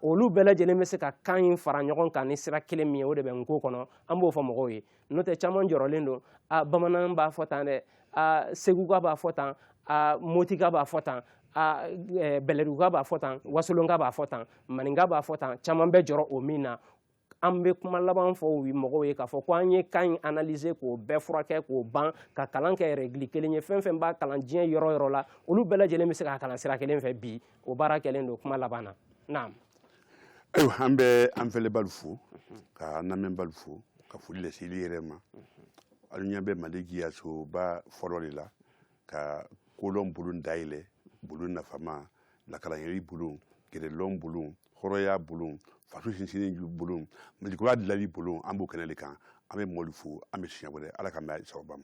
olu bɛɛ lajɛlen bɛ se ka kan in fara ɲɔgɔn kan ni sira kelen min ye o de bɛ nko kɔnɔ an b'o fɔ mɔgɔw ye n'o tɛ caman jɔrɔlen don a bamanan b'a fɔ tan dɛ a seguka b'a fɔ tan a motika b'a fɔ tan a eh, bɛlɛduguka b'a fɔ tan wasolonka b'a fɔ tan maninka b'a fɔ tan caman bɛ jɔrɔ o min na an bɛ kuma laban fɔ mɔgɔw ye k'a fɔ ko an ye kan in analyser k'o bɛɛ furakɛ k'o ban ka kalan kɛ règle kelen ye fɛn fɛn b'a kalan diɲɛ yɔrɔ yɔrɔ la olu bɛɛ lajɛlen bɛ se k'a kalan sira kelen fɛ bi o baara kɛlen don kuma laban na naam ayiwa an bɛ an fɛlɛbaalu fo ka an lamɛnbaalu fo ka foli lase ile yɛrɛ ma alu ɲɛ bɛ mali jiyasoba fɔlɔ de la ka kolɔn bulon dayɛlɛ bulon nafama lakalanyɛri bulon yɛrɛlɔn bulon hɔrɔnya bulon faso sinsinni bulon malikura dilali bulon an b'o kɛnɛ de kan an bɛ mɔɔlu fo an bɛ siɲɛ wɛrɛ ala k'an bɛn sababa ma